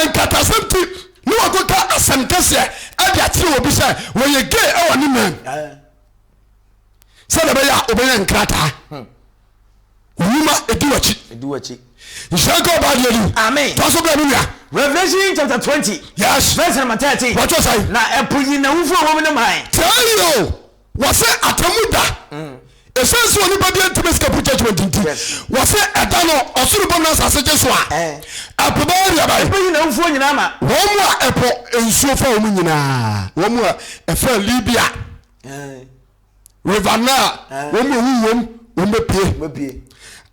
nkatasɛm nti ne wɔkeka asɛm kɛseɛ de akyerɛ obi sɛ wɔyɛ gay wɔ ne man sɛdeɛ ɛbɛyɛ a wobɛnya nkrataa nnwuma ɛdi wakyi nhyira nka ɔbaa deɛ di amen tɔ so bɛ no nua Revelation chapter twenty. Yes. Verse number thirteen. Wọ́n tọ́ sáyé. Na ẹ̀pọ̀ yìí na wúfọ̀ wọ́n mu ní màn. Tẹ́lẹ̀ o. wɔsɛ atamu da ɛsiane sɛ onipa deɛ ntumi sika po judgment nti wɔsɛ ɛda no ɔsoro bom na asase gye so a ɛpo bɛyɛ deɛ bɛyɛ ɛpo nyina mfuo nyinaa ma wɔn mu a ɛpo nsuo fa wɔn nyinaa wɔn mu a ɛfa Libya river Nile wɔn mu a ɛwu wɔm wɔn bɛpie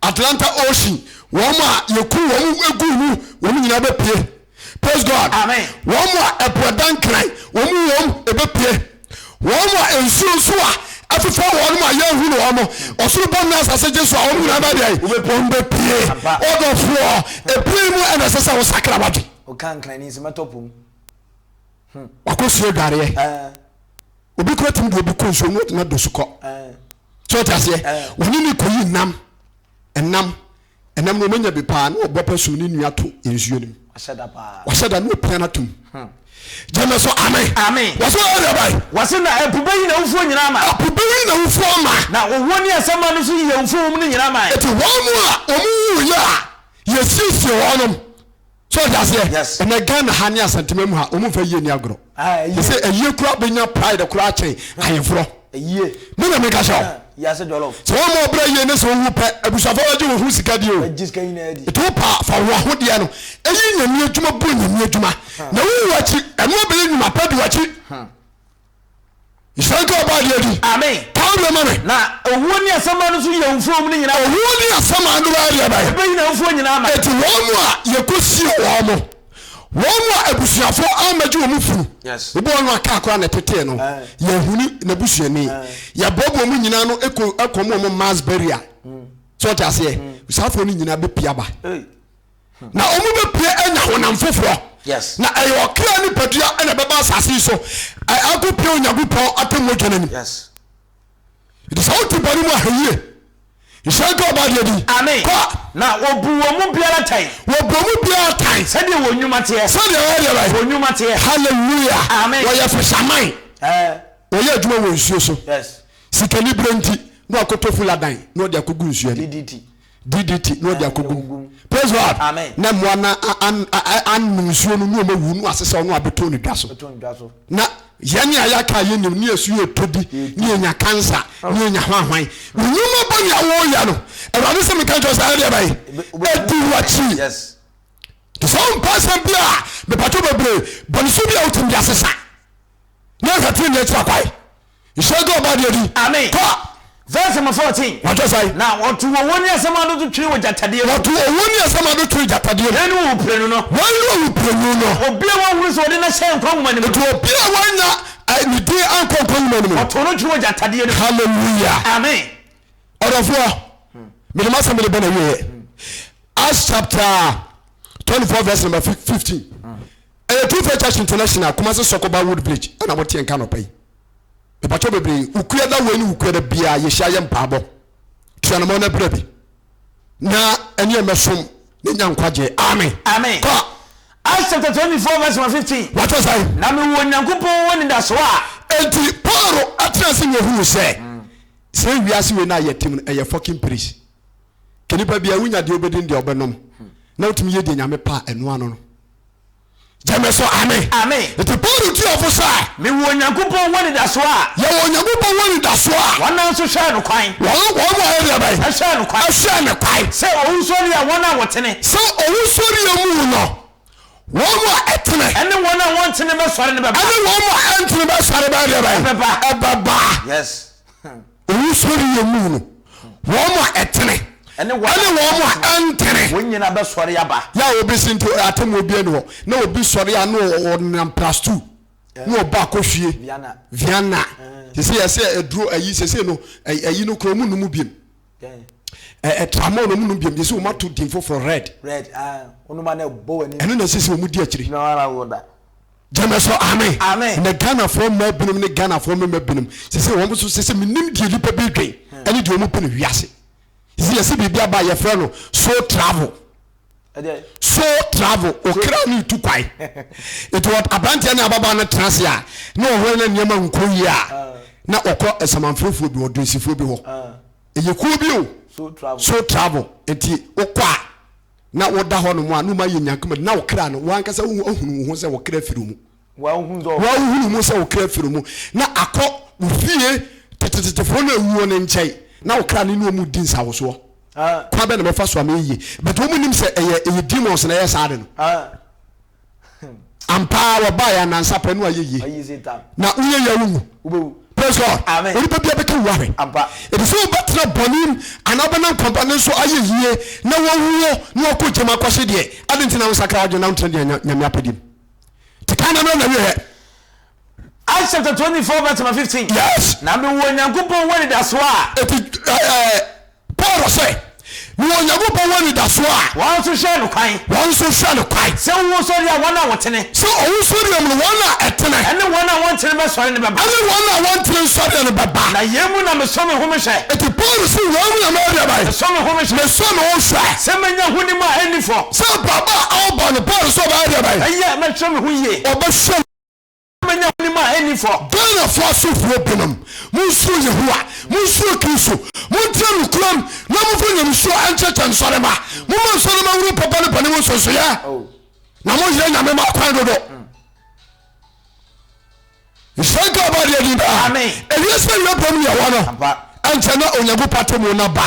Atlanta Ocean wɔn a yɛku wɔn egu mu wɔn nyinaa bɛpie Praise God. Amen. Wɔn a ɛpo ɛda nkran, wɔn mu wɔn ebepue. Wɔn a nsuo nso a ɛfefɛ wɔn mu a yɛnhu no wɔn, ɔsoro bɔ ne asase gye so a wɔn nyinaa bɛ deɛ wɔn bɛ pie. Ɔdɔfoɔ, ebien mu ɛna ɛsɛ sɛ wɔsakra wadwe. Ɔka nkran ni nso mɛtɔ pom. Wakɔ sie dwareɛ. Obi kura tumi de obi kɔ nsuo mu na do so kɔ. Sɛ ɔte aseɛ, wɔne ne kɔyi nam, ɛnam. Ɛnam no ɔmanya bi paa na ɔbɔ pɛ som ne nua to nsuo no mu. Wahyɛ da paa. Wahyɛ da na ɔpia no ato mu. Hmm. Gyeme so ame. Ame. Wɔse ɔyɛ deɛ bae. Wɔse na ɛpo bɛyi n'awufoɔ nyina ama. Ɛpo bɛyi n'awufoɔ ama. Na owuo ne asɛmma no nso yi awufoɔ wɔ mu no nyina ama. Enti wɔn a wɔn wuiɛ a yɛsiesie wɔnom so ɔde aseɛ yes. ɛnɛ ghana ha ne asantema mu ha ɔmu mfa yie ni agorɔ ah, te sɛ ayie kora bɛnya pride kora kyɛn ah. ayeforɔ me na meka hyɛ ah, sɛ wɔma ɔbrɛ yie ne sɛ wowu pɛ abusuafoɔ wagye wo ho sika deɛ o ɛti wo pa fa wo ahodeɛ no ɛyi nyame adwuma bu nyame adwuma na wowu akyi ɛno abɛyɛ nnwuma pa di wakyi nhyira nka ɔbaa deɛ di amen pawo deɛ ma me na owuo ne asɛm ano nso yɛ mfuo mu no nyinaa owuo ne asɛm ano bɛyɛ deɛ bɛyɛ ɛbɛyi na mfuo nyinaa ma ɛti wɔn mu a yɛkɔsie wɔn mo wɔn mu a abusuafo amagye wɔn funu yes ebi wɔn aka akora na ɛtetee no eh. yɛhuni n'abusuani eh. yɛboaboa mu nyinaa no ɛkɔ ɛkɔm wɔn mass burial mm. so ɔte aseɛ mm. saafo no nyinaa bɛpia ba hey. na wɔn bɛpue anya honam foforɔ na ɛyɛ ɔkra nipadua na ɛbɛba asase so akɔpia onyankopɔn atɛmmɔdwa no anim nti sɛ wote bɔne mu ahayie nhyɛ nka ɔba deɛ din kɔ na wɔbu wɔn mu biara tan wɔbu wɔn mu biara tan sɛdeɛ wɔn nnwuma teɛ sɛdeɛ wɔyɛ deɛ wɔn nnwuma teɛ hallelujah amen wɔyɛ fisherman wɔyɛ adwuma wɔ nsuo so sikani berɛ nti na wakɔtɔ fuladan na ɔde akɔgu nsuo no DDT na ɔde akɔgu mu. Praise God. Amen. Na mmoa no anom nsuo no na wɔn awu no ase sɛ ɔno abɛtɔn ne dwa so. Na yɛn a yɛaka a yɛnim ne yɛsu yɛ tɔ bi ne yɛnya kansa ne yɛnya hwanhwan. Nnwuma bɔ ne awoyɛ no Awurade sɛ meka kyerɛ sɛ ayɛ deɛ bɛyɛ ɛdi wakyi. Te sɛ wompɛ asɛm bi a mepatwo bebree bɔne so bi a wotumi de asesa na ɛhwɛ tene ne akyira kwae. Nhyira nka ɔbaa deɛ di. Amen. Kɔ. Verse number fourteen. Wɔtɔ sa yi. Na wɔto owo ne asɛm ano to twe wɔ gyatadeɛ mu. Wɔto owo ne asɛm ano to gyatadeɛ mu. Hena ne owu pirenu no? Hwan ne owu pirenu no? Obi a wɔahunu sɛ wɔde no ahyɛ nkwa nwoma no mu. Nti obi a wɔanya eh, ne din ankɔ nkwa nwoma no mu. Wɔto no twe wɔ gyatadeɛ no mu. Hallelujah. Amen. Ɔdɔfoɔ, mede m'asɛm de bɛ na wieɛ. Acts chapter 24 verse number 15. Ɛyɛ Tufa Junction International Kumasi Soko Ba Wood Bridge ɛna mo teɛ nka anɔpa yi. Mepakyɛw bebree, Wukua da wei ne Wukua da biara yɛhyia yɛ mpaabɔ. Tu anamɔn na bra bi. Na ɛneɛ mɛsom na nya nkwagyeɛ. Amen. Amen. Kɔ. Acts chapter 24 verse number 15. Wate sɛn? Na mewɔ Onyankopɔn ho anidasoɔ a. Enti Paul atena ase na ohuu sɛ, sei wiase wei no a yɛte mu no, ɛyɛ fucking place. Ke nipa biara, wonya deɛ wobɛdi ne deɛ wobɛnom, na wotumi yɛ deɛ Nyame pɛ a, ɛno ano no. gyeme so ame Amen. nti Paulo tu yɛfo sɛ Mewɔ Onyankopɔn ho anidasoɔ a yɛwɔ Onyankopɔn ho anidasoɔ a wɔn a nso hwɛɛ no kwan wɔn wɔn a ɛdeɛ bɛn ɛhwɛɛ no kwan ɛhwɛɛ ne kwan sɛ owusɔreɛ a wɔn a wɔtene sɛ owusɔreɛ mu no wɔn a ɛtene ɛne wɔn a wɔntene bɛsɔre no bɛba ɛne wɔn a ɛntene bɛsɔre bɛdeɛ bɛn Ɛbɛba. ɛbɛba Yes. Owusɔre yɛ mu no, wɔn a ɛtene ɛne wɔn a ɛntene, wɔn nyinaa bɛsɔre aba. Yɛ a obi si nti atemmuo biara ni hɔ, na obi sɔre a na ɔnam plus two na ɔba akɔhwie Viana. Sese yɛ sɛ aduro ayi sese no ayi no kura ɔmo num biem. Tramol na ɔmo num biem sese ɔmo ato din foforɔ red. Ɛno na sese ɔmo di akyire. gyeme so amen Amen. na ghanafoɔ mmaa binom ne ghanafoɔ mmarima binom sɛ sɛ wɔn so sɛ sɛ menim deɛ nnipa bi dwen ɛne deɛ wɔn pɛ no wiase sɛ sɛ yɛsɛ biribi aba a yɛfrɛ no so travel ɛdeɛ so travel okra ne tu kwae nti wɔ- aberanteɛ ne ababaa no tena ase a na ɔhwɛ na nneɛma nkɔ yie a na ɔkɔ asamanfrɛfoɔ bi ɔdonsifoɔ bi hɔ ah, ɛyɛ kuo bi o so travel so travel nti wokɔ a Na woda hɔnom a, na woayɛ nyanka mu de, na wo kra no, w'ankasa wo ho ahunu wo ho sɛ wo kra firi wo mu. Woahunu wo ho sɛ wo kra firi wo mu, na akɔ wo fie tetetetefoɔ no a awuo no nkyɛn, na wo kra no ne wɔn redi nsawosoɔ. Kwan bɛn na mɛfa so ama ayɛ yie? But wɔnnim sɛ ɛyɛ, ɛyɛ demons na ɛyɛ saa ade no. Hmm. Ampa ara wɔbaa yɛn anansa pɛ no ayɛ yie na woyɛ yɛ wo wu praise God Amen. onipa bia bɛka wu ahwɛ Ampa. ɛti sɛ wobɛtena bɔne m anaa wobɛnam kwampa no nso ayɛ yie na wɔwuo na wɔkɔ gyam akɔhye deɛ ade nti na wonsakra wadwene na wontena deɛ nyame apɛdeɛ m nti ka na mmerɛ na wieɛ Acts chapter twenty four verse number fifteen. Yes. Na mi wɔ Nyankopɔn wɔ anidaso a. Eti ɛɛ Paul sɛ mi wɔ Nyankopɔn wɔ anidaso a. Wɔn nso hwɛ no kwan. Wɔn nso hwɛ no kwan. Sɛ owuo sɔre a wɔn a wɔtene. Sɛ owuo sɔre a mu wɔn a ɛtene. Ɛne wɔn a wɔntene bɛsɔre no bɛba. Ɛne wɔn a wɔntene nsɔre no bɛba. Na yɛn mu na mesɔ me ho mehwɛ. Eti Paul si wɔn mu na mɛdeɛ bɛyɛ. Mesɔ me ho mehwɛ. Mesɔ me ho hwɛ. Sɛ menya ho nim a ɛnni fɔ. Sɛ abrabɔ a ɔbɔ no Paul sɛ ɔbɛyɛ deɛ bɛyɛ. Ɛyɛ mɛhwɛ me ho yie. Ɔbɛhwɛ. Menya w'anim ahenni fɔ. Bɛn na fa so huro binom? Monsuro Yehowa, monsuro Kristo, montra nokorɛm, na momfa nyamesuo nkyekyɛ nsɔremma. Momma nsɔremma nhunu papa ne bɔne mu nsonsonoeɛ, na monyere Nyame mma kwan dodo. Nhyira nka ɔba adeɛ din daa. Ɛwiɛ sɛ wiɛ bɔm ne ɛwɔ no, ɛnkyɛ na Onyankopɔn atemmuo no aba.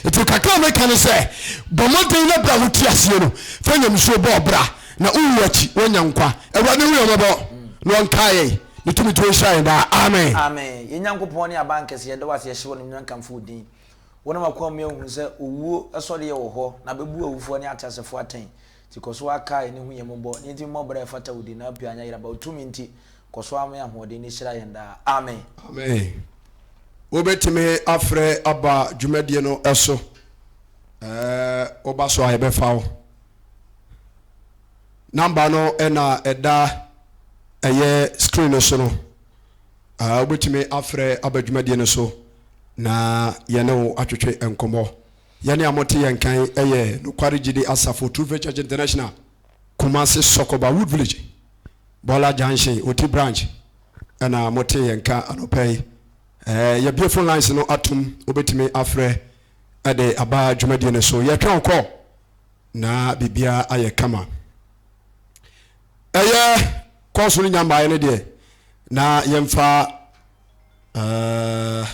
Nti kakra a meka ne sɛ, bɔ mmɔden na berɛ a wote aseɛ no, fa nyamesuo bɔ ɔbra. Na wo wu akyi wɔanya nkwa. Awurade hu yɛn mmɔbɔ na ɔnkae yɛn. Ne tumi tuo nhyira yɛn daa. Amen. Amen yɛn Nyankopɔn ne Abankɛse yɛda wo ase yɛhyɛ wo animuonyam kamfo wo din wonam akoa mu yɛahu sɛ owuo sɔreɛ wɔ hɔ na bɛbu awufoɔ ne ateasefoɔ atɛn nti kɔ so ara kae ne hu yɛn mmɔbɔ ne yɛntumi mmɔ bra a ɛfata wo din na pii anyɛ yeraba wo tumi nti kɔ so ara ma yɛn ahoɔden ne hyira yɛn daa amen. Amen wobɛtumi afrɛ aba dwumadie no so ɛɛ woba so a yɛbɛfa wo. Number no na ɛda ɛyɛ screen no so no. Uh, wobɛtumi afrɛ aba dwumadie no so na yɛne wo atwetwe nkɔmmɔ. Yɛne a mote yɛn kan ɛyɛ Nokware Gyidi Asafo True Faith Church International, Kumasi Sɔkɔba Wood Village, Bɔla Junction, Oti Branch ɛna mote yɛn ka anɔpa yi. Eh, yɛbie phone lines no atom, wobɛtumi afrɛ de aba dwumadie no so yɛtwɛn wo call na biribiara ayɛ kama ɛyɛ kɔɔso no nya mmaeɛ no deɛ na yɛmfa uh,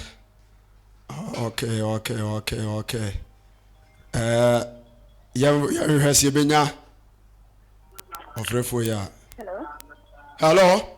okay okay okay okay uh, yɛnhwɛ sɛ yɛbɛnya ɔfrɛfoɔ yi a hello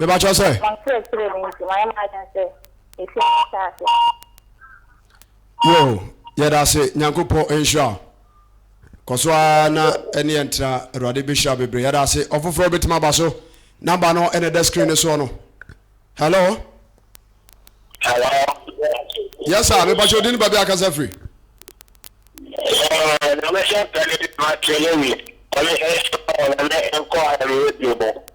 mebakyɛ sɛ. Wɔnkyerɛkyerɛ me nti mayɛ m'adwene sɛ mefi ɔno asaase no so. Yoo yɛdase nyankopɔn nhyira wo kɔso ara na ɛne yɛn tra awurade bɛhyira bebree yɛdase ɔfoforɔ bɛtumi aba so namba no ɛna ɛda screen no soɔ no hello hello yes sir mepakyɛ odi ne baabi akasa firi na mɛhyɛ pɛne de ma kelewi ɔne ɛhyɛ ɔne nkɔ ayɛyɛ bio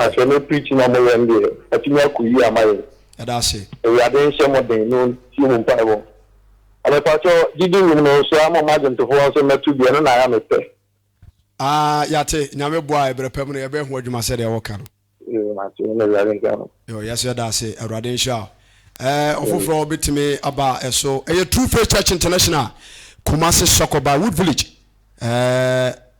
Na sɛ me preach na mo yɛn deɛ atumi akɔ yie ama yɛn. Yɛdaase. Awurade nhyɛ mo den na ɔntie mo mpaebɔ. Na mepakyɛ gyidi wom no nso ama mo adwomtofoɔ nso mmɛto bi ɛno na ayɛ me pɛ. Aa yɛate Nyame boa a ɛbrɛ pɛm no yɛbɛyɛ ho adwuma sɛdeɛ wɔka no. Yoo mate na Awurade nhyira mo. Yoo yɛso yɛdaase Awurade nhyira wo. Ɛɛ ɔfoforɔ bɛtumi aba ɛso ɛyɛ True Faith Church International Kumasi Sɔkɔba Wood Village ɛɛ.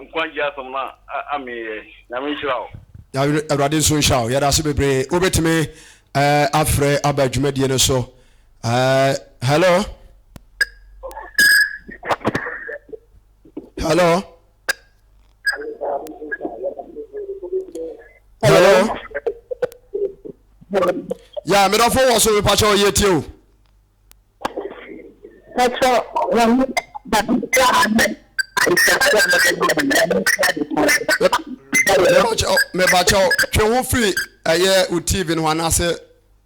Nkwagye asɛm no amee yɛ. Nyame nhyira wo. Awurade nso nhyira wo. Yɛda ase bebree. Wobɛtumi eh, afrɛ aba dwumadie no so. Eh, hello? Hello? Hello? Ya, medɔfo wɔ so mepakyɛ ɔyɛ tie o. Mɛkyerɛ wɔn baabiara a na anisoadeɛ a wɔde ma wɔn no, mɛkyerɛ ade koro so. Mɛkyerɛ wɔn. Mebakyɛw, mebakyɛw, twe ho firi ɛyɛ wo TV no ho anaasɛ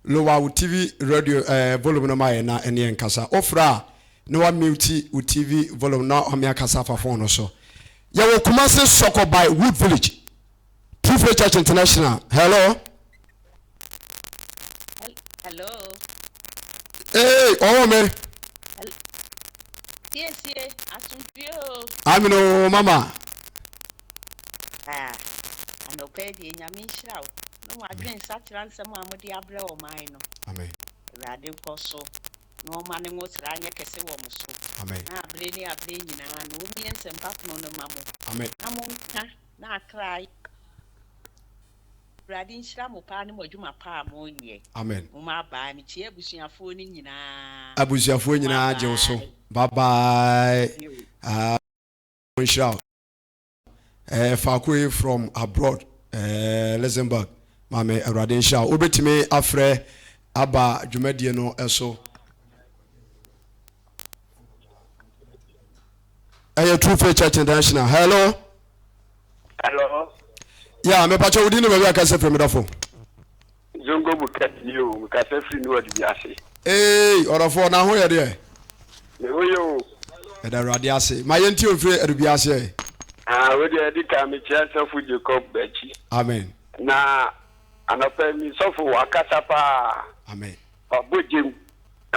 lower wo TV radio ɛɛ eh, volume no ma yɛ na ɛne yɛn kasa. Ofra a na wa mute wo TV volume na ɔme akasa afa phone no so. Yɛwɔ Kumasi Sɔkɔ by Wood Village. True Faith Church International. Hello. Hello. Ee, ọwọ mi. Siesie, asundue o. Amina o, mama. Ah, anọpẹ e di enyame nhyira o. Na wọn adwene nsakyera nsɛm a wɔde abrɛ ɔman no. Amen. Awurade nkɔ so na ɔma ne ngo sra anyɛ kɛse wɔ mo so. Amen. Na abere ne abere nyinaa no wɔmmie nsɛmpa pono no ma mo. Amen. Na monka N'atrae. Awurade nhyira mo paa ne mo adwuma pa a mo nyɛ. Amen. Mo ma bye me kyia abusuafoɔ no nyinaa. Abusuafoɔ nyinaa gye wo so. Bye bye. Ah, mo nhyira wo. Eh, faako yi from abroad, eh, Luxembourg. Maame Awurade nhyira wo. Wobɛtumi afrɛ aba dwumadie no so. ɛyɛ true faith church international hello hello ya mepakyɛ wodi ne baabi a kasa firi medɔfo zongo mu kɛt ni o mekasa firi ne wɔde bi ase ee ɔdɔfoɔ na ho yɛ deɛ ne ho yɛ o ɛda awurade ase ma yɛnti ɔmfiri adubi aseɛ ah, wodeɛ ɛde ka mekyia sɔfo jacob bakyi amen na anɔpa mi sɔfo wakasa paa amen Wabɔ gyam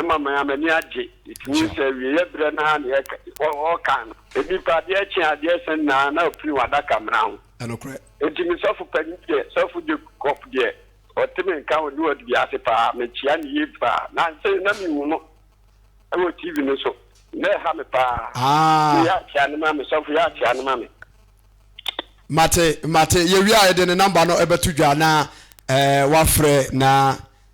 ma me ara m'ani agye. Ɛtumi hu sɛ awieɛ berɛ no ara na ɔreka no. Nnipa adeɛ kye adeɛ sa nyinaa na ɔpini wɔn adakamena ho. Ɛnokorɛ. Enti me sɔfo panin deɛ, Sɔfo Jacob deɛ, ɔte me nka wɔ Newark dua ase pa ara. Mekyea no yie pa ara. Nansa yi na menhu no wɔ TV no so. Na ɛha me pa ara. Aa! Yɛ akyea no ma me, sɔfo, yɛ akyea no ma me. Mate, mate. Yɛwie a yɛde ne namba no bɛto dwa na eh, woafrɛ na.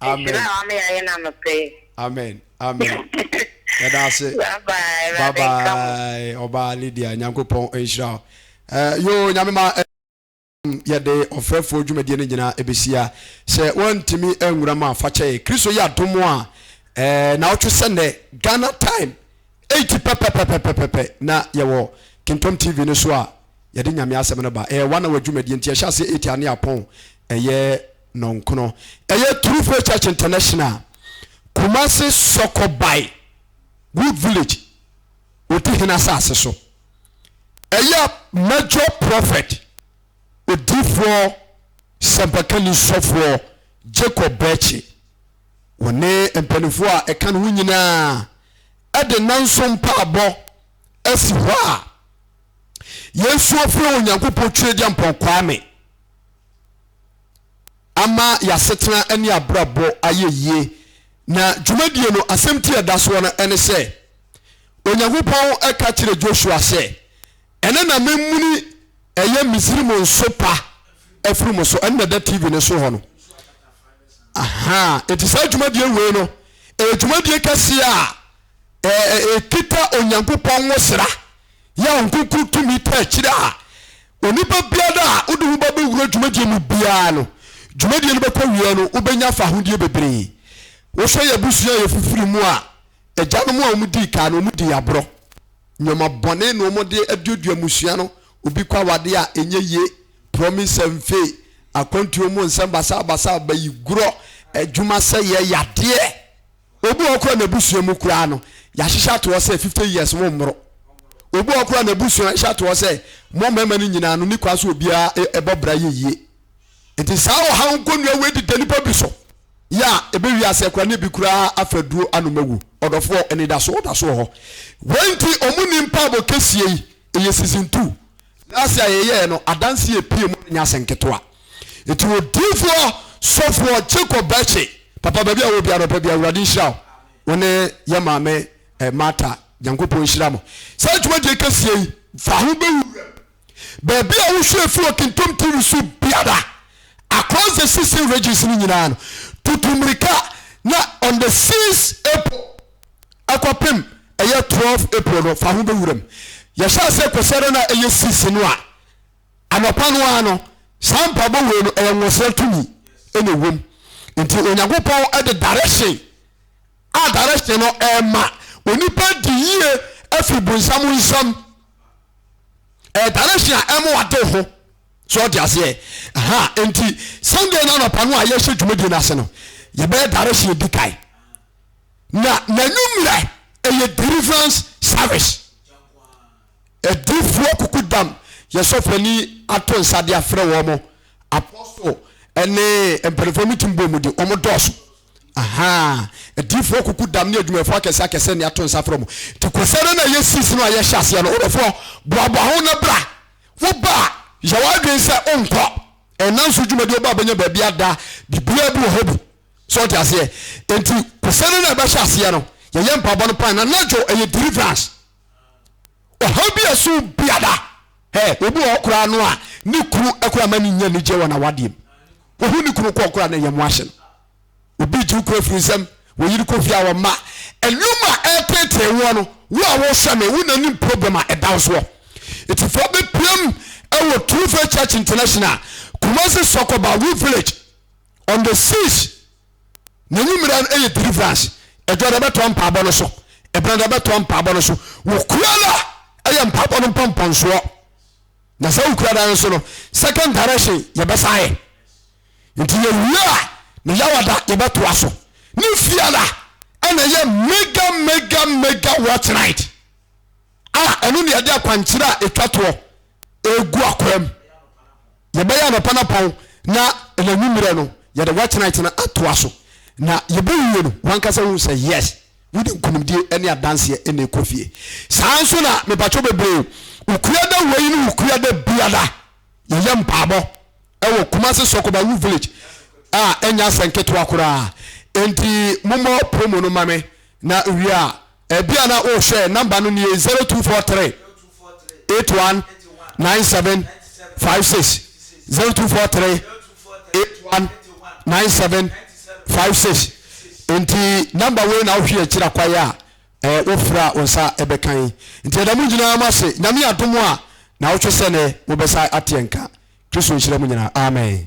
Amen. Amen. Amen. Yɛda ase. Bye bye. Ɔbaa Lydia Nyankopɔn nhyira wo. Eh, yo nyame ma eh, yɛde ɔfrɛfoɔ dwumadie no nyinaa ɛbɛsia sɛ woantumi anwura mu a fa kyɛe kristo yɛ adom a eh, na wotwe sɛ nnɛ ghana time 8 pɛpɛpɛpɛpɛpɛ na yɛwɔ kintom tv no so a yɛde nyame asɛm no ba ɛyɛ one hour dwumadie nti ɛhyɛ aseɛ 8 ane apɔn ɛyɛ nɔnkron. Ɛyɛ Turufoɔ Church International, Kumasi Sɔkɔ by Wood Village, Odihene asase so. Ɛyɛ Major Prophet, Odiifoɔ, Sɛmpakani Sɔfoɔ Jacob Bɛɛkye, wɔne mpanimfoɔ a ɛka ne ho nyinaa ɛde nnanson mpaabɔ asi hɔ a yɛn nso afiri Onyankopɔn Twedeampɔn Kwame ama y'asetena ne abrabɔ ayɛ yie. Na dwumadie no, asɛmti a ɛda soɔ no ne sɛ, Onyankopɔn ka kyerɛ Joshua sɛ, Ɛnɛ na memuni ɛyɛ Misraim nsopa afiri mo so. Ɛno na ɛda TV no so hɔ no. Aha, enti saa dwumadie wei no, ɛyɛ dwumadie kɛseɛ a ɛkita Onyankopɔn nwosra. Yɛ a wo nkonkuru tumi ta akyire a onipa biara a wode wo ba bɛwura dwumadie mu biara no, dwumadie no bɛkɔ awieɛ no wobɛnya fahodie bebree. Wohwɛ yɛn abusua a yɛfifiri mu a, agyanom a wɔdii kan no wɔdii aborɔ. Nneɛma bɔne na wɔde aduadua mmusua no, obi kɔ awadeɛ a ɛnyɛ yie, promise and fail, akwantuo mu nsɛm basabasa, bayigorɔ, adwuma sɛeɛ, yadeɛ. Obi wɔ hɔ koraa n'abusua mu koraa no, yɛahyehyɛ ato hɔ sɛ fifty years mommoro. Obi wɔ hɔ koraa n'abusua hyɛ ato hɔ sɛ mo mmarima no nyinaa no ne kwan so obiara e, ɛbɔ bra yɛ yie. Nti saa ɔhaw nkonnua wei deda nnipa bi so yɛ a ebe wiase koraa ne bi koraa afa aduro anom awu. Ɔdɔfoɔ, anidaso da so wɔ hɔ. Wei nti wɔn nni mpaabɔ kɛseɛ yi, ɛyɛ season two. N'ase a yɛyɛɛ no adanse a epue mu no nyɛ asɛm ketewa. Enti odiyifoɔ sɔfoɔ Jacob Bɛkye, papa baabi a wowɔ biara anɔpa bi, Awurade nhyira wo, wo ne yɛn maame eh, Martha, Nyankopɔn nhyira mo. Saa dwumadie kɛseɛ yi, fa ho bɛ wo wuram. Baabi a wohwɛ fi wɔ Kintom TV so biara, across the 16 regions no nyinaa no, tutu mmirika na on the 6 April, ɛkɔpem ɛyɛ twelve April no fa ho bɛ wuram. Yɛhyɛ aseɛ kwasiada no a ɛyɛ six no a anɔpa no ara no saa mpaebɔ wei no ɛyɛ nwɔsrɛ tumi ɛna ɛwom. Nti Onyankopɔn ɛde direction a direction no ɛma onipa di yie ɛfiri bonsam nsam. Ɛyɛ direction a ɛma wade ho so ɔde aseɛ. Ha nti Sunday no anɔpa no a yɛhyɛ dwumadie no ase no yɛbɛyɛ direction di kan. na n'anwummerɛ ɛyɛ deliverance service adiifoɔ kuku dam yɛ sɔfani ato nsa de afrɛ wɔn mo apostle ɛne mpanimfoɔ mu tim bɔ mu de wɔn dɔɔso ahaa adiifoɔ kuku dam ne adwumayɛfoɔ akɛse akɛse ne ato nsa frɛ wɔn te kɔsɛ no na yɛ sisi no a yɛhyɛ aseɛ no wodɔfoɔ boaboa ho na bra woba a yɛ w'adwene sɛ wonkɔ ɛnanso dwumadi ɔba bɛnya baabi ada biribiara bi wɔ hɔ bi so ɔte aseɛ nti kɔsɛ no na ɛbɛhyɛ aseɛ no yɛyɛ mpaabɔ no paa na nadwo ɛyɛ deliverance ɔhaw bi a ɛso biada ɛ obi wɔ hɔ koraa no a ne kunu ɛkora ma ne nya anigye wɔ n'awadeɛ mu wɔhu ne kunu kɔɔ koraa na ɛyɛ mo ahye no obi gye wo kura firi nsɛm wɔyere kɔ fie a wɔn mma ɛnum a ɛretetee woɔ no wo a wɔhwɛ no wo na nim problem a ɛda wo soɔ ɛtifoɔ bɛpiam ɛwɔ true faith church international kumasi sɔkɔba wo village on the six n'anwummerɛ no yɛ deliverance ɛdwa na ɛbɛtoa mpaabɔ no so ɛbɛn na ɛbɛtoa mpaabɔ no so wokura no a ɛyɛ mpaabɔ no mpɔmpɔnsoɔ na sɛ wokura dan so no second direction yɛbɛsa yɛ nti yɛwie a ne yawada yɛbɛtoa so ne fiada ɛna ɛyɛ mega mega mega watch night a ɛno ne yɛde akwankyerɛ a ɛtwa toɔ egu akwam. Yɛbɛyɛ anɔpa no pɔn na anwummerɛ no yɛde watch night no atoa so. Na yɛbɛwie no wankasa hu sɛ yes wode nkunimdie ne adanseɛ ɛna ɛkɔ fie. Saa nso na mepatwɔ bebree wokua da wei ne wokua da biara yɛyɛ mpaabɔ ɛwɔ Kumasi Sɔkobawu village a ɛnyɛ asɛnketewa koraa. Enti momɔ promo no ma me na wie a Ebia na worehwɛ nɔmba no nie, zero two four three eight one nine seven five six zero two four three eight one nine seven five six nti nɔmba wei na wohwɛ akyiri akwae a ɛɛ wofura a wo nsa ɛbɛka yi nti ɛda mu nyinaa mu ase nyame adom a na wotwe sɛ ne wobɛsa ateɛ nka kristo nhyira mu nyinaa amen.